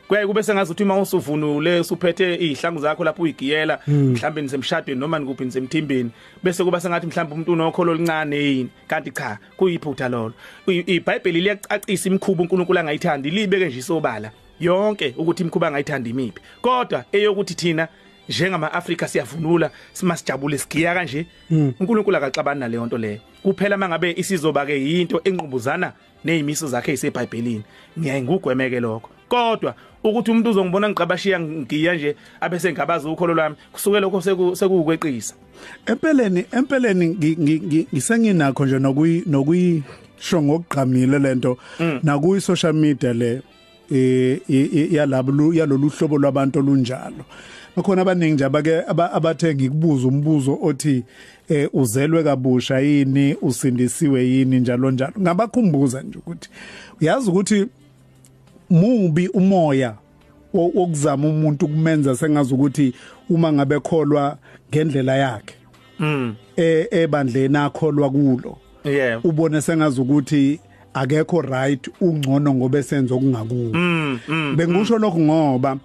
kuyaye kube sengazi ukuthi uma usuvunule usuphethe izihlangu zakho lapho uyigiyela hmm. mhlawumbe nisemshadweni noma nikuphi nisemthimbeni bese kuba sengathi mhlawumbe umuntu unokholo oluncane yini kanti cha kuyiphutha lolo iBhayibheli liyacacisa imikhuba uNkulunkulu angayithandi libeke nje isobala yonke ukuthi imkhuba angayithanda imiphi kodwa eyokuthi thina njengama Africa siyavunula simasijabule sigiya kanje hmm. uNkulunkulu akaxabani naleyo nto leyo kuphela mangabe isizoba ke yinto enqubuzana nezimiso zakhe iseBhayibhelini ngiyaye ngugwemeke lokho kodwa ukuthi umuntu uzongibona ngigqabashiya ngiya nje abese ngabazi ukholo lwami kusuke lokho sekuwukweqisa empeleni empeleni ngisenginakho nje nokuyi nokuyi sho ngokugqamile lento mm. nakuyi social media le eh yalabo yalolu hlobo lwabantu olunjalo bakhona abaningi nje abake abathe ngikubuza umbuzo othi eh uzelwe kabusha yini usindisiwe yini njalo njalo ngabakhumbuza nje ukuthi uyazi ukuthi mubi umoya wokuzama umuntu kumenza sengazi ukuthi uma ngabe kholwa ngendlela yakhe mm. e, ebandleni akholwa kulo yeah ubone sengazi ukuthi akekho right ungcono ngoba esenza okungakuwe mm, mm, bengisho mm. lokho ngoba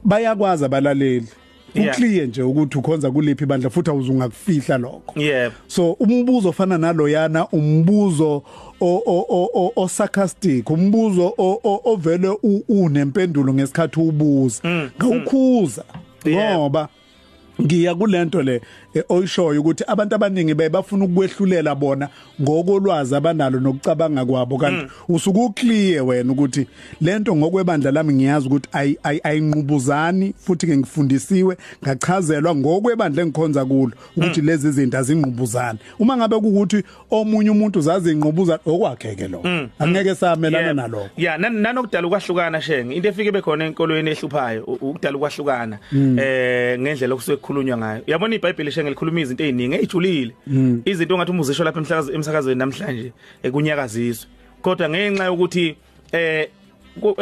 bayakwazi abalaleli uclear nje ukuthi ukhonza kuliphi ibandla futhi awuzungakufihla lokho yebo so umbuzo ofana naloyana umbuzo o sarcastic umbuzo ovele unempendulo ngesikhathi ubuza mm, ngawukhuza ngoba ngiya kulento le eh, oyishoyo ukuthi abantu abaningi baye bafuna ukwehlulela bona ngokolwazi abanalo nokucabanga kwabo kanti mm. usuku clear wena ukuthi lento ngokwebandla lami ngiyazi ukuthi ayinqubuzani futhi ke ngifundisiwe ngachazelwa ngokwebandla engikhonza kulo ukuthi mm. lezi zinto azingqubuzani uma ngabe ukuthi omunye umuntu zaze inqubuza okwakhe ke lo mm, mm. angeke samelana nalokho yeah nanokudala ukwahlukana shenge into efike bekhona enkolweni ehluphayo ukudala ukwahlukana mm. eh ngendlela okusuke kukhulunywa ngayo yabona iBhayibheli shenge likhuluma izinto eziningi ezijulile izinto ongathi umuzisho lapha emsakazweni emsakazweni namhlanje ekunyakaziswe kodwa ngenxa yokuthi eh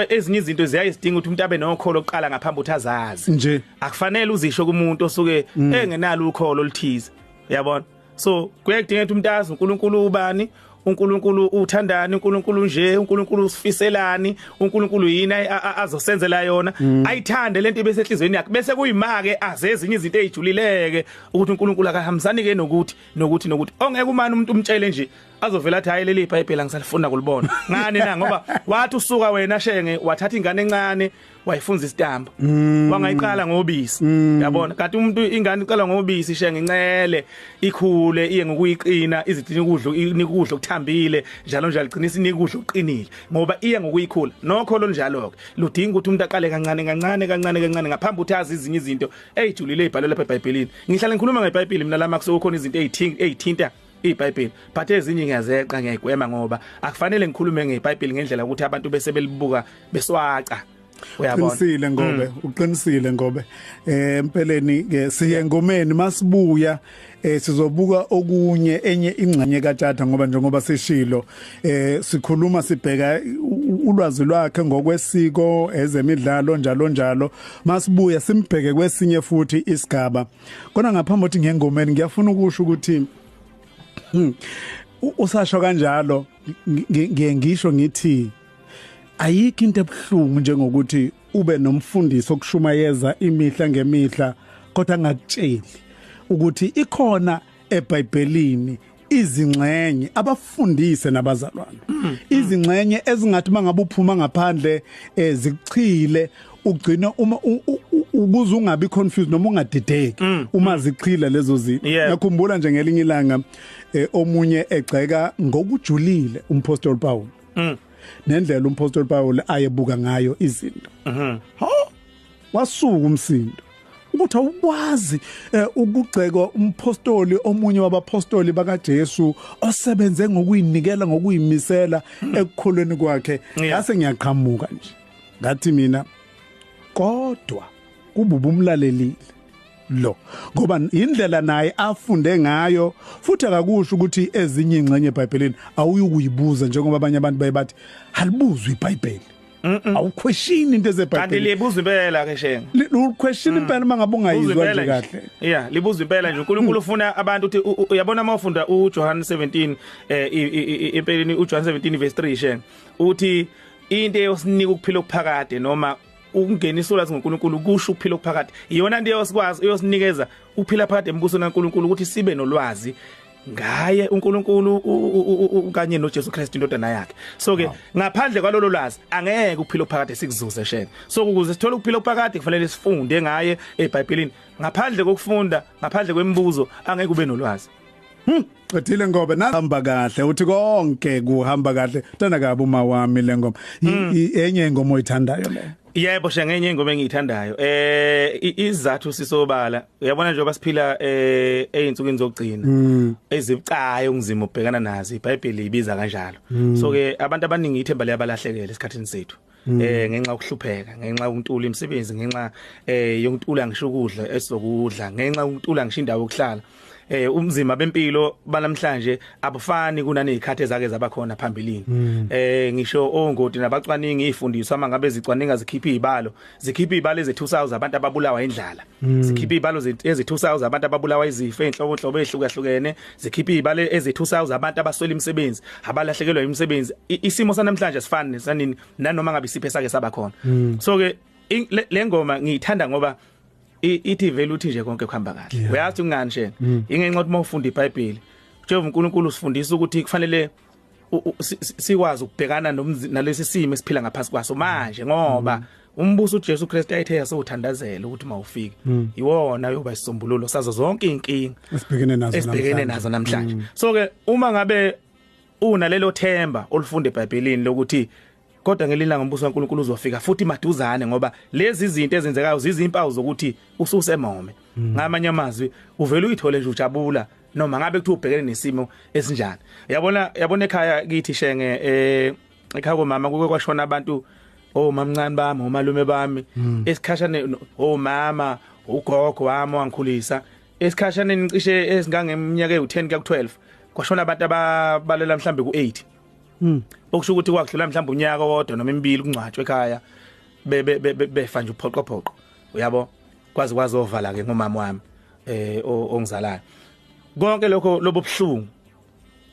ezinye izinto ziyayisidinga ukuthi umuntu abe nokholo oqala ngaphambi ukuthi azazi nje akufanele uzisho kumuntu osuke engenalo ukholo oluthize yabona so kuyadinga ukuthi umuntu azi uNkulunkulu ubani uNkulunkulu uthandani uNkulunkulu nje uNkulunkulu usifiselani uNkulunkulu yini azosenzela yona mm. ayithande lento bese enhlizweni yakhe bese kuyimake aze ezinye izinto ezijulileke ukuthi uNkulunkulu akahambisani ke nokuthi nokuthi nokuthi ongeke umani umuntu umtshele nje azovela athi hayi leli iBhayibheli angisalifunda kulibona ngani na ngoba wathi usuka wena shenge wathatha ingane encane wayifunza isitambo mm. wangayiqala ngobisi mm. yabona kanti umuntu ingane iqala ngobisi ishe ngincele ikhule iye ngokuyiqina izidini ukudla nikudla okuthambile njalo njalo qinisa nikudla okuqinile ngoba iye ngokuyikhula nokho lo njalo ke ludinga ukuthi umuntu aqale kancane kancane kancane kancane ngaphambi ukuthi azi izinye izinto ezijulile ezibhalwe lapha eBhayibhelini ngihlale ngikhuluma ngeBhayibheli mina lama kusokhona izinto ezithinta iBhayibheli but ezinye ngiyazeqa ngiyayigwema ngoba akufanele ngikhulume ngeBhayibheli ngendlela ukuthi abantu bese belibuka beswaca uyabona uqinisile ngobe mm. uqinisile ngobe eh empeleni ke siye ngomeni masibuya eh sizobuka okunye enye ingxenye kaTata ngoba njengoba sishilo eh sikhuluma sibheka ulwazi lwakhe ngokwesiko ezemidlalo njalo njalo masibuya simbheke kwesinye futhi isigaba Kona ngaphambi ukuthi ngengomeni ngiyafuna ukusho ukuthi hmm, usasho kanjalo ngiye ngisho ngithi ayikho into ebuhlungu njengokuthi ube nomfundisi okushumayeza imihla ngemihla kodwa angakutsheli ukuthi ikhona eBhayibhelini izingxenye abafundise nabazalwane mm. izingxenye ezingathi mangabe uphuma ngaphandle eh, zichile ugcina uma ukuze ungabi confused noma ungadideki mm, uma mm. zichila lezo zinto ngiyakhumbula nje ngelinye ilanga eh, omunye egxeka ngokujulile umpostoli Paul nendlela umpostoli Paul ayebuka ngayo izinto mhm. Wasuka umsindo ukuthi awukwazi eh, ukugxeka umpostoli omunye wabapostoli bakaJesu osebenze ngokuyinikela ngokuyimisela ekukholweni kwakhe ngase ngiyaqhamuka nje ngathi mina kodwa kububa umlalelile lo ngoba indlela naye afunde ngayo futhi akakusho ukuthi ezinye ingxenye eBhayibhelini awuyukuyibuza njengoba abanye abantu baye bathi halibuzwe iBhayibheli awuquestion into ezebhayibheli kanti libuza impela ke shenga uquestion mm. impela mangabe ungayizwa nje kahle yeah libuza impela nje uNkulunkulu mm. ufuna abantu uthi uyabona uma ufunda uJohn 17 eh impeleni uJohn 17 verse 3 shenga uthi into eyosinika ukuphila okuphakade noma ukungenisa ulwazi ngoNkulunkulu kusho ukuphila okuphakade iyona into eyosikwazi eyosinikeza ukuphila phakade embusweni kaNkulunkulu ukuthi sibe nolwazi ngaye uNkulunkulu kanye noJesu Kristu indodana yakhe so ke ngaphandle kwalolo lwazi angeke uphile uphakade sikuzuze sheke so ukuze sithole ukuphila uphakade kufanele sifunde ngaye eBhayibhelini ngaphandle kokufunda ngaphandle kwemibuzo angeke ube nolwazi Hmm, qedile ngoba nahamba kahle uthi konke kuhamba kahle tana kabi uma wami lengoma hmm. enye ingoma oyithandayo le Yebo shengenye ingoma engiyithandayo eh izathu sisobala uyabona njengoba siphila eh einsukwini zokugcina mm. ezibucayo ungizima ubhekana nazo iBhayibheli ibiza kanjalo mm. so ke abantu abaningi ithemba liyabalahlekela esikhathini sethu mm. eh ngenxa yokuhlupheka ngenxa yokuntula imisebenzi ngenxa eh yokuntula ngisho ukudla esizokudla ngenxa yokuntula ngisho indawo yokuhlala eh umzima bempilo banamhlanje abufani kunanezikhathi ezake zabakhona phambilini mm. eh ngisho ongoti nabacwaningi ifundiswa mangabe zicwaninga zikhipha izibalo zikhipha izibalo eze2000 abantu ababulawa indlala mm. zikhipha izibalo eze2000 abantu ababulawa izifo enhloko hlobo ehlukahlukene zikhipha izibalo eze2000 abantu abaswela imisebenzi abalahlekelwa imisebenzi isimo sanamhlanje sifani nesanini nanoma ngabe isiphe sake sabakhona mm. so ke lengoma ngiyithanda ngoba ithi vele uthi nje konke kuhamba kahle uyazi ungani shena mm. ingenxa ukuthi mawufunda iBhayibheli Jehova uNkulunkulu usifundisa ukuthi kufanele sikwazi ukubhekana nalesi simo esiphila ngaphansi kwaso manje ngoba mm. umbuso uJesu Kristu ayithe yasewuthandazela ukuthi mawufike mm. iwona yoba isisombululo sazo zonke inkinga esibhekene nazo esibhekene nazo namhlanje so ke uma ngabe unalelo themba olifunda eBhayibhelini lokuthi kodwa ngelinye ilanga umbuso kaNkuluNkulu uzofika futhi maduzane ngoba lezi zinto ezenzekayo zizimpawu zokuthi ususemome hmm. ngamanye amazwi uvela uyithole nje ujabula noma ngabe kuthi ubhekene nesimo esinjani yabona yabona ekhaya kithi shenge eh ekhaya komama kuke kwashona abantu omamncane oh, bami omalume oh, bami hmm. esikhashane omama oh, ugogo wami wangikhulisa esikhashane ngicishe esingangeminyaka ewu10 kuya ku12 kwashona abantu ababalela mhlambe ku8 Mm. Okusho ukuthi kwakudlula mhlawumbe unyaka wodwa noma imibili kungcwatshwe ekhaya be be befa nje uphoqo phoqo. Uyabo? Kwazi kwazi ovala ke ngomama wami eh ongizalayo. Konke lokho lobuhlungu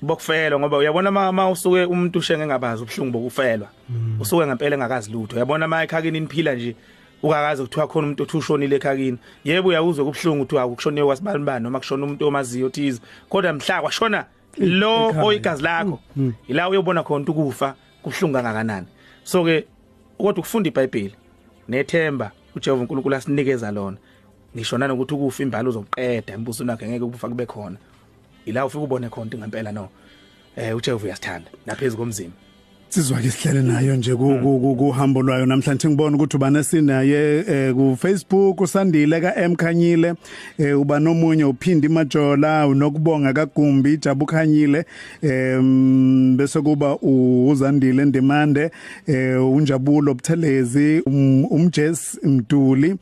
bokufelwa ngoba uyabona mama usuke umuntu ushenge ngabazi ubuhlungu bokufelwa. Mm. Usuke ngempela engakazi lutho. Uyabona mama ekhakini niphila nje ukakaze kuthiwa khona umuntu othi ushonile ekhakini yebo uyawuzwa kubuhlungu kuthiwa ukushoniwe wasibani bani noma kushona umuntu omaziyo thize kodwa mhla kwashona lo oyigazi lakho ila uyobona khona ukufa kubuhlungu kangakanani so ke kodwa ukufunda iBhayibheli nethemba uJehova uNkulunkulu asinikeza lona ngisho nanokuthi ukufa imbali uzoqeda imbuso nakhe ngeke ukufa kube khona ila ufike ubone khona ngempela no eh uJehova uyasithanda naphezulu komzimba Sizwa ke sihlele nayo nje kuhambo lwayo namhlanje ngibona ukuthi ubane sinaye eh, ku Facebook usandile ka Mkhanyile eh, uba nomunye uphindi majola unokubonga kagumbi jabu khanyile bese kuba uzandile ndemande eh, unjabulo buthelezi um, umjes mduli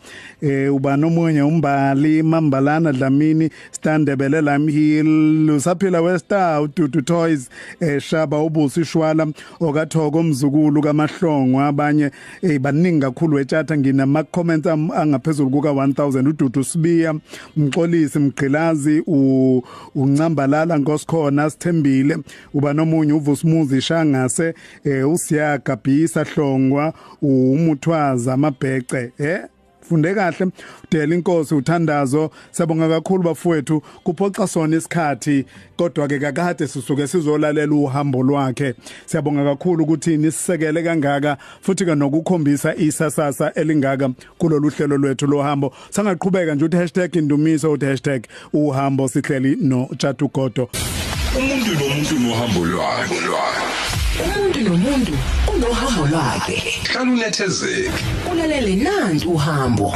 uba nomunye umbali mambalana dlamini Stan Ndebele Lime Hill usaphila westar uDudu Toys eshaba eh, ubusi shwala okathoko mzukulu kamahlongwa abanye eh baningi kakhulu etshatha nginama comments angaphezulu kuka 1000 uDudu Sibiya Mxolisi Mgqilazi u uncambalala nkosikhona sithembile uba nomunye uVusmuzi Shangase eh usiyaga Bhisa Hlongwa umuthwaza amabhece eh funde kahle udela inkosi uthandazo sabonga kakhulu bafowethu kuphoxa sona isikhathi kodwa ke kakade sisuke sizolalela uhambo lwakhe siyabonga kakhulu ukuthi nisisekele kangaka futhi ke nokukhombisa isasasa elingaka kulolu hlelo lwethu lohambo sangaqhubeka nje uthi #indumiso uthi uhambo sihleli no Tshatu Godo umuntu nomuntu nohambo lwakhe umuntu nomuntu unohambo lwakhe hlala unethezeke ulalele nanti uhambo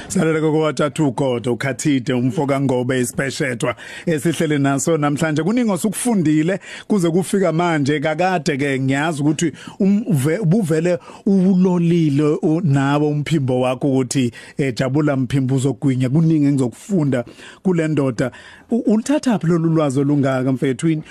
Salele kokwaThathu Godo ukhathide umfo kaNgobe isipeshethwa esihlele naso namhlanje kuningi osukufundile kuze kufika manje kakade ke ngiyazi ukuthi um, ubuvele uwulolile nawe umphimbo wakho ukuthi eh jabula mphimbo uzogwinya kuningi engizokufunda kulendoda ulithatha phi lolu lwazi olungaka mfethu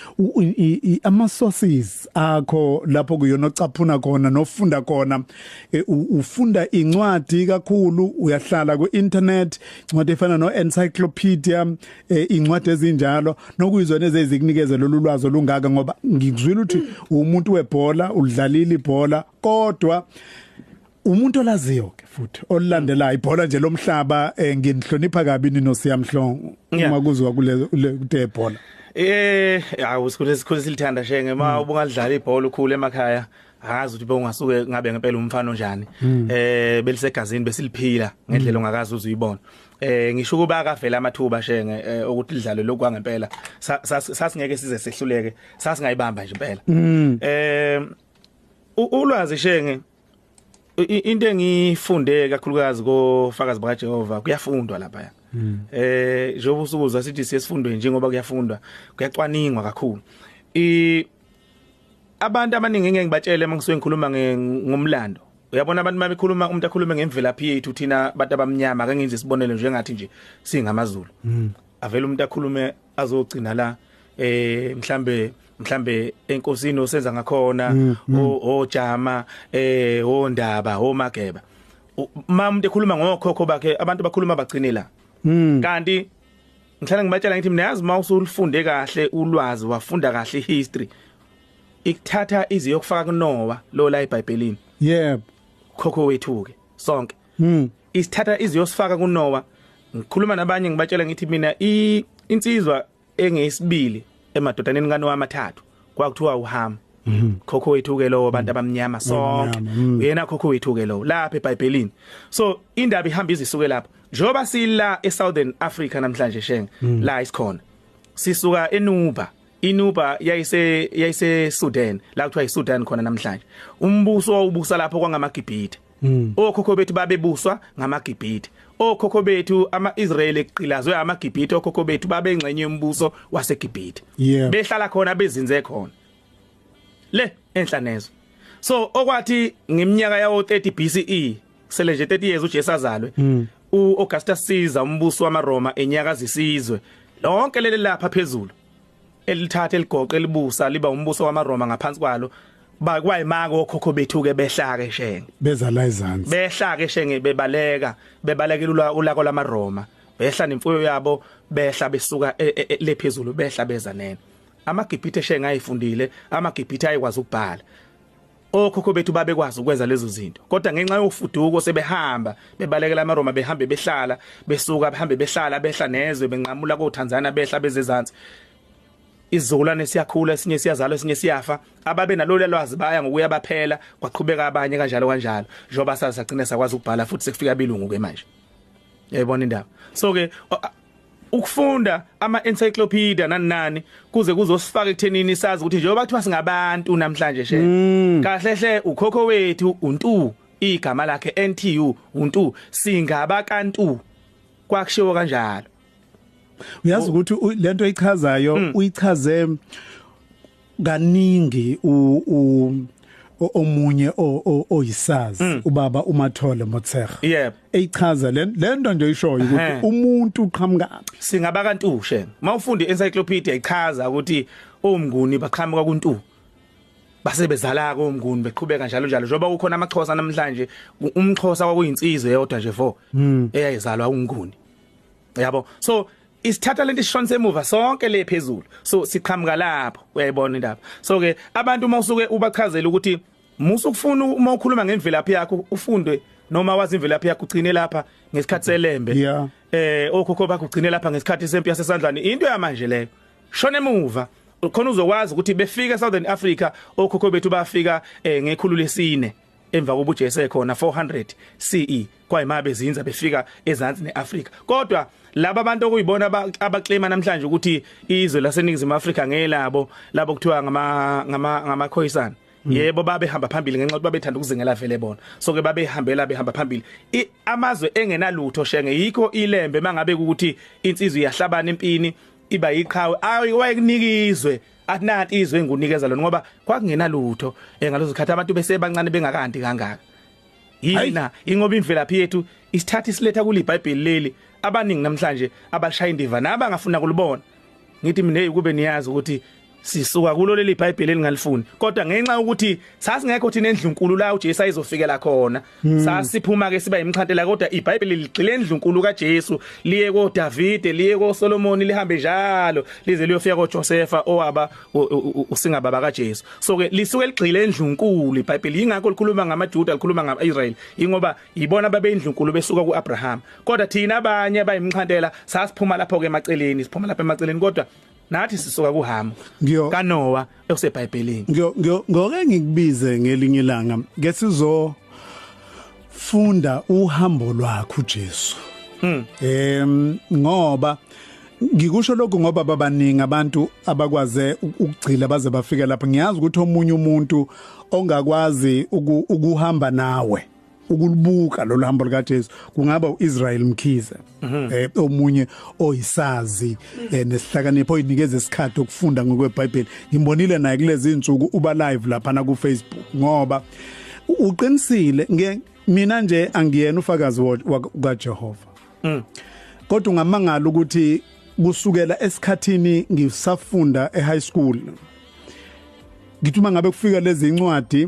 ama sources akho lapho kuyona ocaphuna khona nofunda khona eh, ufunda incwadi kakhulu uyahlala ku internet incwadi efana no encyclopedia eh, incwadi ezinjalo nokuyizona ezizikunikeza lolu lwazi olungaka ngoba ngikuzwile ukuthi umuntu webhola ulidlalile ibhola kodwa umuntu olaziyo ke futhi olilandela ibhola nje lomhlaba eh, nginihlonipha kabi nino siyamhlongo uma kuzwa kule kute bhola eh awu sikhule sikhule silithanda shenge uma hmm. ubungadlala ibhola ukhule emakhaya akazi ukuthi bewungasuke ngabe ngempela umfana onjani hmm. eh belisegazini besiliphila ngendlela hmm. ongakazi uzuyibona eh ngisho kuba akavela amathuba shenge eh, ukuthi lidlalo lokwa ngempela sasingeke size sehluleke sasingayibamba nje impela eh ulwazi shenge into engifunde kakhulukazi kofakazi bakaJehova kuyafundwa lapha hmm. eh njengoba usukuzwa sithi siyesifundwe njengoba kuyafundwa kuyacwaningwa kakhulu i abantu abaningi ngeke ngibatshele mangisuke ngikhuluma ngomlando uyabona abantu uma bekhuluma umuntu akhulume ngemvelaphi yethu thina abantu abamnyama akengenze isibonelo njengathi nje singamazulu hmm. avela umuntu akhulume azogcina la eh mhlambe mhlambe enkosini osenza ngakhona mm, mm. ojama eh ondaba omageba uma umuntu ekhuluma ngokhokho bakhe abantu bakhuluma bagcine la mm. kanti ngihlala ngibatshela ngithi mina yazi uma usulifunde kahle ulwazi wafunda kahle history ikuthatha izi yokufaka kunowa lo la eBhayibhelini yebo khokho wethu ke sonke Hmm. Isithatha iziyosifaka kuNowa. Ngikhuluma nabanye ngibatshela ngithi mina insizwa engeyisibili emadodaneni kaNowa amathathu kwakuthiwa uHamu. Mhm. khokho wethu ke lowo abantu abamnyama sonke mhm. uyena khokho wethu ke lowo lapha eBhayibhelini so indaba ihamba izisuke lapha njoba sila eSouthern Africa namhlanje shenge mhm. la isikhona sisuka eNuba iNuba yayise yayise Sudan la kuthiwa iSudan khona namhlanje umbuso wawubusa lapho kwangamaGibhithe Mm. Okhokho bethu babebuswa ngamaGibhithe. Okhokho bethu amaIsrael eqilazwe amaGibhithe okhokho bethu babengxenye yombuso waseGibhithe. Yeah. Behlala khona bezinze khona. Le enhlanezo. So okwathi ngeminyaka yawo 30 BCE sele nje 30 years uJesu azalwe. Mm. uAugustus Caesar umbuso wamaRoma enyakazisizwe lonke leli lapha phezulu elithatha eligoqe elibusa liba umbuso wamaRoma ngaphansi kwalo bakwayimaka okhokho bethu ke behlake shenge beza la izansi behlake shenge bebaleka bebalekela ulako lamaRoma behla nemfuyo yabo behla besuka e, e, e, lephezulu behla beza nene amagibhithe shenge ayifundile amagibhithe ayikwazi ukubhala Okhokho bethu babekwazi ukwenza lezo zinto kodwa ngenxa yofuduko sebehamba bebalekela amaRoma behambe behlala besuka behambe behlala behla nezwe benqamula koThanzania behla bezezansi izizukulwane siyakhula esinye siyazalwa esinye siyafa ababe nalolu lwazi baya ngokuya baphela kwaqhubeka abanye kanjalo kanjalo njengoba sasagcina sakwazi ukubhala futhi sekufika abilungu ke manje yayibona indaba so ke ukufunda ama encyclopedia nani nani kuze kuzosifaka ekuthenini sazi ukuthi njengoba kuthiwa singabantu namhlanje she mm. kahle hle ukhokho wethu untu igama lakhe NTU untu singaba kantu kwakushiwo kanjalo uyazi ukuthi lento ichazayo mm. uyichaze kaningi u, u omunye oyisazi mm. ubaba uMathole Motshega yep eyichaza lento nje ishoyo ukuthi umuntu uqhamuka singaba kantushe mawufunda encyclopedia ichaza ukuthi omnguni baqhamuka kuntu base bezala komnguni beqhubeka njalo njalo njengoba kukhona amaxhosa namhlanje umxhosa kwakuyinsizwe yodwa nje vo mm. eyayizalwa unguni yabo so isithatha lento isishonisa emuva sonke le phezulu so siqhamuka lapho uyayibona indaba so ke abantu uma usuke ubachazela ukuthi musu kufuna uma ukhuluma ngemvelaphi yakho ufunde noma wazi imvelaphi yakho ugcine lapha ngesikhathi selembe yeah. eh okhokho bakho ugcine lapha ngesikhathi sempi yasesandlwane into yamanje leyo shona emuva khona uzokwazi ukuthi befika eSouthern Africa okhokho bethu bafika eh, ngekhulu lesine emva kokuba uJesu ekhona 400 CE kwayima bezinza befika ezansi neAfrika kodwa laba bantu okuyibona abaclaima namhlanje ukuthi izwe laseningizimu Afrika ngelabo labo kuthiwa ngama ngama ngamakhoyisana Mm. yebo babehamba phambili ngenxa ukuthi babethanda ukuzingela vele bona so ke babehambela behamba phambili amazwe engenalutho shenge yikho ilembe mangabe ukuthi insizwe iyahlabana empini iba yiqhawe ayi wayekunikizwe akunati izwe engunikeza lona ngoba kwakungenalutho engalozo khathi abantu besebancane bengakandi kangaka yina ingoba imvelaphi yethu isithatha isiletha kule iBhayibheli leli abaningi namhlanje abashaya indiva naba ngafuna kulibona ngithi mina ukube niyazi ukuthi sisuka kulo leli iBhayibheli elingalifuni kodwa ngenxa ukuthi sasingekho thina endlunkulu la uJesu ayizofikela khona Hmm. Sasiphuma ke siba imxhantela kodwa iBhayibheli ligxile endlunkulu kaJesu liye koDavide liye koSolomon lihambe njalo lize liyofika koJosefa owaba usingababa kaJesu so ke lisuke ligxile endlunkulu iBhayibheli ingakho likhuluma ngamaJuda likhuluma ngamaIsrael ingoba yibona babeyindlunkulu besuka kuAbraham kodwa thina abanye abayimxhantela sasiphuma lapho ke emaceleni siphuma lapha emaceleni kodwa nathi sisoka kuhamu kanowa ekusebhayibhelini ngoke ngikubize ngelinye ilanga ke sizo funda uhambo lwakho uJesu hmm. em ngoba ngikusho lokho ngoba babaningi abantu abakwaze ukugcila baze bafike lapha ngiyazi ukuthi omunye umuntu ongakwazi ukuhamba nawe ukulubuka lolu hambo lukaJesu kungaba uIsrael Mkhize mhm. eh omunye oyisazi eh, nesihlakanipho oyinikeza isikhathi okufunda ngokweBhayibheli ngimbonile naye kulezi insuku uba live lapha na ku Facebook ngoba uqinisile nge mina nje angiyena ufakazi kaJehova mm. kodwa ungamangala ukuthi kusukela esikhathini ngisafunda eHigh school ngithuma ngabe kufika lezi incwadi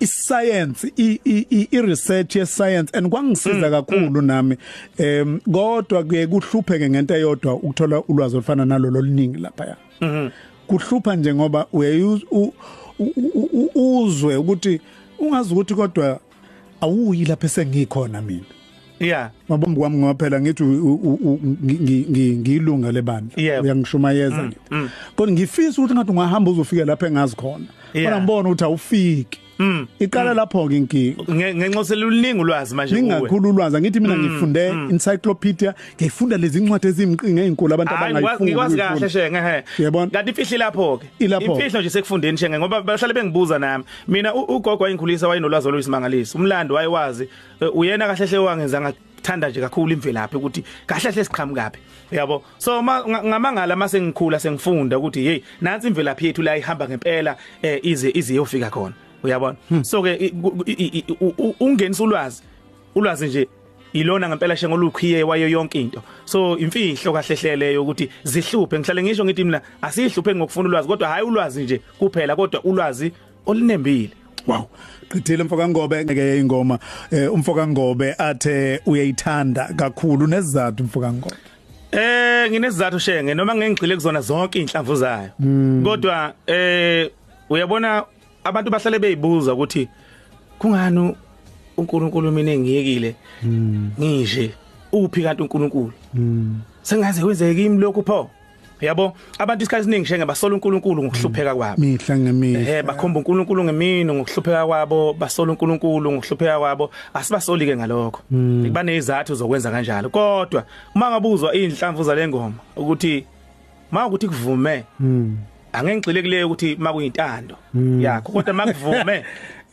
isayensi i research ye science and kwangisiza mm, kakhulu mm. nami em kodwa kuye kuhlupheke ngento eyodwa ukuthola ulwazi olufana nalolo liningi lapha ya mm-hmm. kuhlupha nje ngoba uye uzwe ukuthi ungazi ukuthi kodwa awuyi lapha sengikhona mina Yeah. Mabombi kwami ngoba phela ngithi ngiyilunga lebandla uyangishumayeza mm, nje. Mm. Kodwa ngifisa ukuthi ngathi ungahamba uzofika lapha engazi khona. Kodwa ngibona ukuthi awufiki. Mm. Iqala lapho ke inkinga. Ngenxa seluningi ulwazi manje kuwe. Ningakhulu ulwazi angithi mina ngifunde encyclopedia, ngifunda lezi incwadi ezimqinga ezinkulu abantu abangayifundi. Ngikwazi kahle shenge he. Yabona. Kanti ifihli lapho ke. Imfihlo nje sekufundeni shenge ngoba bahlale bengibuza nami. Mina ugogo wayingikhulisa wayinolwazi oluyisimangaliso. Umlando wayewazi Eh, uyena kahle hle wangenza ngathanda nje kakhulu imvelaphi ukuthi kahle hle siqhamukaphi yabo so ngamangala mase ngikhula sengifunda ukuthi hey nansi imvelaphi yethu la ihamba ngempela eh, ize ize yofika khona uyabona hmm. so ke ungenisa ulwazi ulwazi nje ilona ngempela shengo lukhiye wayo yonke into so imfihlo kahle hlele ukuthi zihluphe ngihlale ngisho ngithi mina asihluphe ngokufuna ulwazi kodwa hayi ulwazi nje kuphela kodwa ulwazi olinembile wow qithile mfoka Ngobe ngeke ingoma eh, umfoka Ngobe athe uyayithanda kakhulu nezizathu mfoka Ngobe eh nginezizathu shenge noma ngengigxile kuzona zonke inhlamvu zayo hmm. kodwa eh uyabona abantu bahlale beyibuza ukuthi kungani uNkulunkulu mina engiyekile hmm. ngishe uphi kanti uNkulunkulu hmm. sengaze wenzeke kimi lokhu pho yabo abantu isikhathi esiningi shenge basola uNkulunkulu ngokuhlupheka mm. kwabo mihla ngemihla eh bakhomba uNkulunkulu ngemini ngokuhlupheka kwabo basola uNkulunkulu ngokuhlupheka kwabo asibasoli ke ngalokho mm. banezathu zokwenza kanjalo kodwa uma ngabuzwa inhlamvu zalengoma ukuthi ma ukuthi kuvume mm. angengixile kuleyo ukuthi makuyintando yakho kodwa makuvume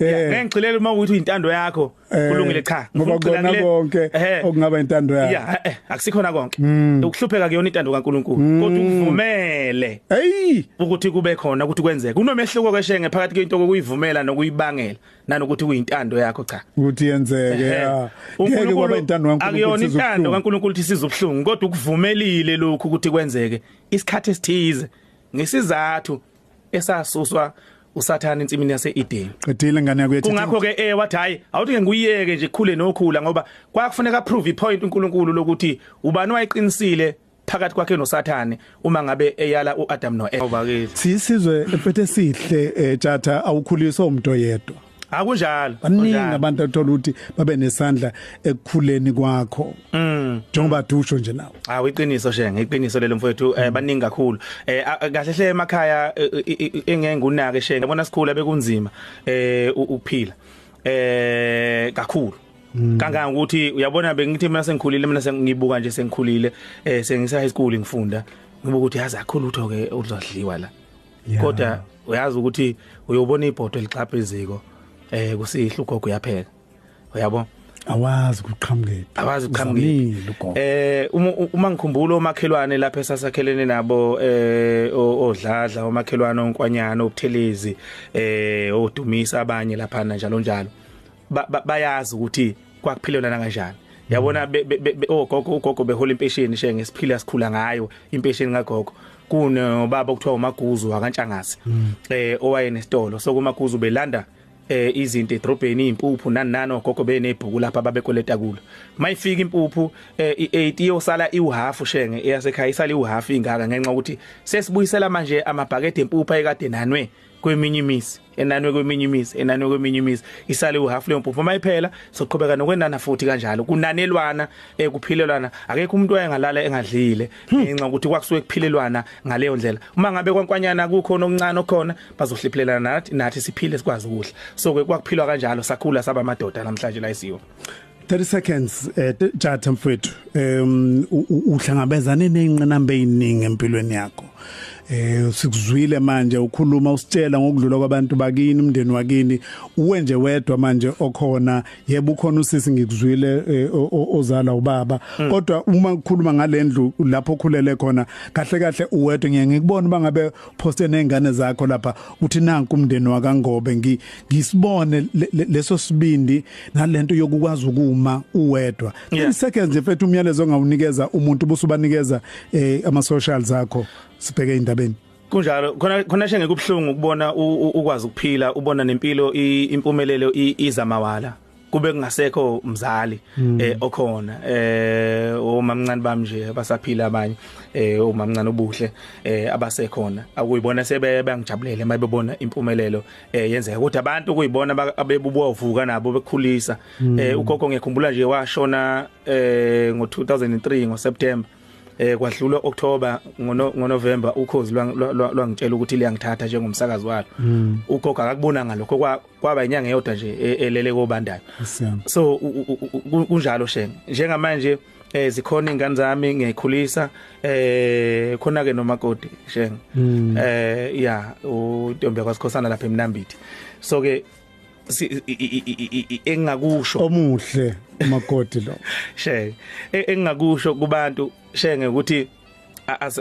ngengixile uma ukuthi uyintando yakho Eh, kulungile cha ngoba kona konke eh. okungaba intando yakhe yeah eh, akusikhona konke hmm. ukuhlupheka kuyona intando kaNkuluNkulu hmm. kodwa ukuvumele hey ukuthi kube khona ukuthi kwenzeke kunomehluko keshenge phakathi kwento kokuyivumela nokuyibangela nanokuthi kuyintando yakho cha ukuthi yenzeke yeah ngeke kwaba intando kaNkuluNkulu akuyona intando kaNkuluNkulu ukuthi sizobuhlungu kodwa ukuvumelile lokhu ukuthi kwenzeke isikhathi esithize ngesizathu esasuswa usathana ensimini yaseEden qedile ngane yakho kungakho ke eh wathi hayi awuthi ke nguyeke nje khule nokhula ngoba kwakufuneka prove ipoint uNkulunkulu lokuthi ubani wayeqinisile phakathi kwakhe noSathane uma ngabe eyala uAdam noEva sisizwe empethe sihle eh, jatha awukhuliswa umuntu oyedwa akunjalo baningi abantu athola ukuthi babe nesandla ekukhuleni kwakho mm. njengoba dusho nje nawe ah uyiqiniso shenge iqiniso lelo mfowethu eh, mm. baningi kakhulu eh kahle hle emakhaya eh, eh, engeke ngunake shenge yabona sikhula bekunzima eh ukuphila eh kakhulu Mm. kangaka ukuthi uyabona bengithi mina sengikhulile mina sengibuka nje sengikhulile eh sengisa high school ngifunda ngibuka ukuthi yazi akho lutho ke uzodliwa la kodwa uyazi ukuthi uyobona ibhodo elixhapha iziko eh kusihle ugogo uyapheka uyabo awazi kuqhamukephi awazi kuqhamukephi eh uma ngikhumbula omakhelwane lapha esasakhelene nabo eh odladla omakhelwane onkwanyana obuthelezi eh odumisa abanye lapha njalo njalo bayazi ukuthi kwakuphilelana kanjani yabona ogogo oh, ugogo behola impesheni she ngesiphila sikhula ngayo impesheni kagogo kunobaba okuthiwa uMaguzu wakantshangazi mm. eh owayenesitolo so kuMaguzu belanda eh izinto edrobheni impuphu nani nani ogogo benebhuku lapha babekoleta kulo mayifika impuphu eh, i8 iyosala iwuhalf shenge eyasekhaya isala iwuhalf ingaka ngenxa ukuthi sesibuyisela manje amabhakede empuphu ayekade nanwe kweminye imizi enanwe kweminye imizi enanwe kweminye imizi isale uhalf leyo mpuphu uma iphela soqhubeka nokwenana futhi kanjalo kunanelwana ekuphilelwana eh, akekho umuntu oyengalala engadlile hmm. ngenxa ukuthi kwakusuke kuphilelwana ngaleyo ndlela uma ngabe kwankwanyana kukho nokuncane okhona bazohliphilelana nathi nathi siphile sikwazi ukudla so ke kwakuphilwa kanjalo sakhula saba amadoda namhlanje la isiyo 30 seconds eh Jatha mfethu um uhlangabezane nezinqinamba eziningi empilweni yakho eh sikuzwile manje ukhuluma usitshela ngokudlula kwabantu bakini umndeni wakini uwe nje wedwa manje okhona yebo ukhona usisi ngikuzwile eh, ozala ubaba hmm. kodwa uma ukhuluma ngalendlu lapho okhulele khona kahle kahle uwedwa ngeke ngikubona bangabe poste nezingane zakho lapha uthi nanku umndeni wakangobe ngi ngisibone leso sibindi nalento yokukwazi ukuma uwedwa yeah. seconds nje mfethu umyalezo ongawunikeza umuntu busubanikeza eh, ama socials akho sibheke indabeni kunjalo khona khona shenge kubhlungu ukubona ukwazi ukuphila ubona nempilo impumelelo iza mawala kube kungasekho umzali hmm. eh okhona eh omamncane bami nje abasaphila abanye eh omamncane obuhle eh abasekhona akuyibona sebe bangijabulele mayibona impumelelo eh yenzeka kodwa abantu kuyibona abebubovuka nabo bekhulisa hmm. eh ugogo ngiyakhumbula nje washona eh ngo 2003 ngo September eh kwadlula October ngoNovember ukhozi lwangitshela ukuthi liyangithatha njengomsakazi walo hmm. ugogo akakubona ngalokho kwaba inyanga eyodwa nje e, elele kobandayo so kunjalo shenge njengamanje eh zikhona ingane zami ngiyikhulisa eh khona ke nomakoti shenge hmm. eh ya uNtombi kwaSikhosana lapha eMnambithi so ke engakusho omuhle umakoti lo shenge e, engakusho kubantu shenge ukuthi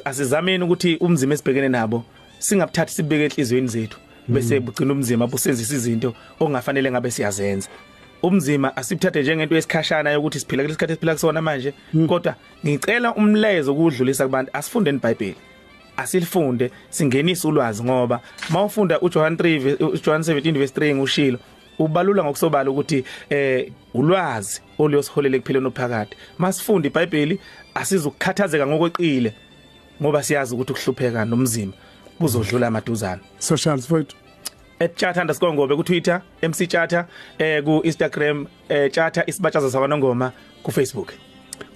asizameni ukuthi umzima esibhekene nabo singabuthathi sibeke enhlizweni zethu bese bugcina umzima busenzisa izinto ongafanele ngabe siyazenza umzima asibuthathe njengento yesikhashana yokuthi siphila kulesikhathi esiphila kusona manje hmm. kodwa ngicela umlezo ukudlulisa kubantu asifunde iBhayibheli asilifunde singenise ulwazi ngoba mawufunda uJohn 3 uJohn 17 verse 3 ngushilo ubalula ngokusobala ukuthi eh ulwazi oluyosiholela ekuphileni ophakade masifunde iBhayibheli asizukukhathazeka ngokweqile ngoba siyazi ukuthi ukuhlupheka nomzimba kuzodlula amaduzana socials mfowethu etshatha underscore ngobe ku Twitter MC Chatha eh ku Instagram eh Chatha isibatshaza sakwanongoma ku Facebook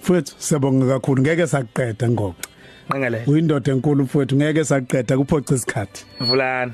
mfowethu siyabonga kakhulu ngeke sakuqeda ngoxa nqengelele uyindoda enkulu mfowethu ngeke sakuqeda kuphoxa isikhathi mvulana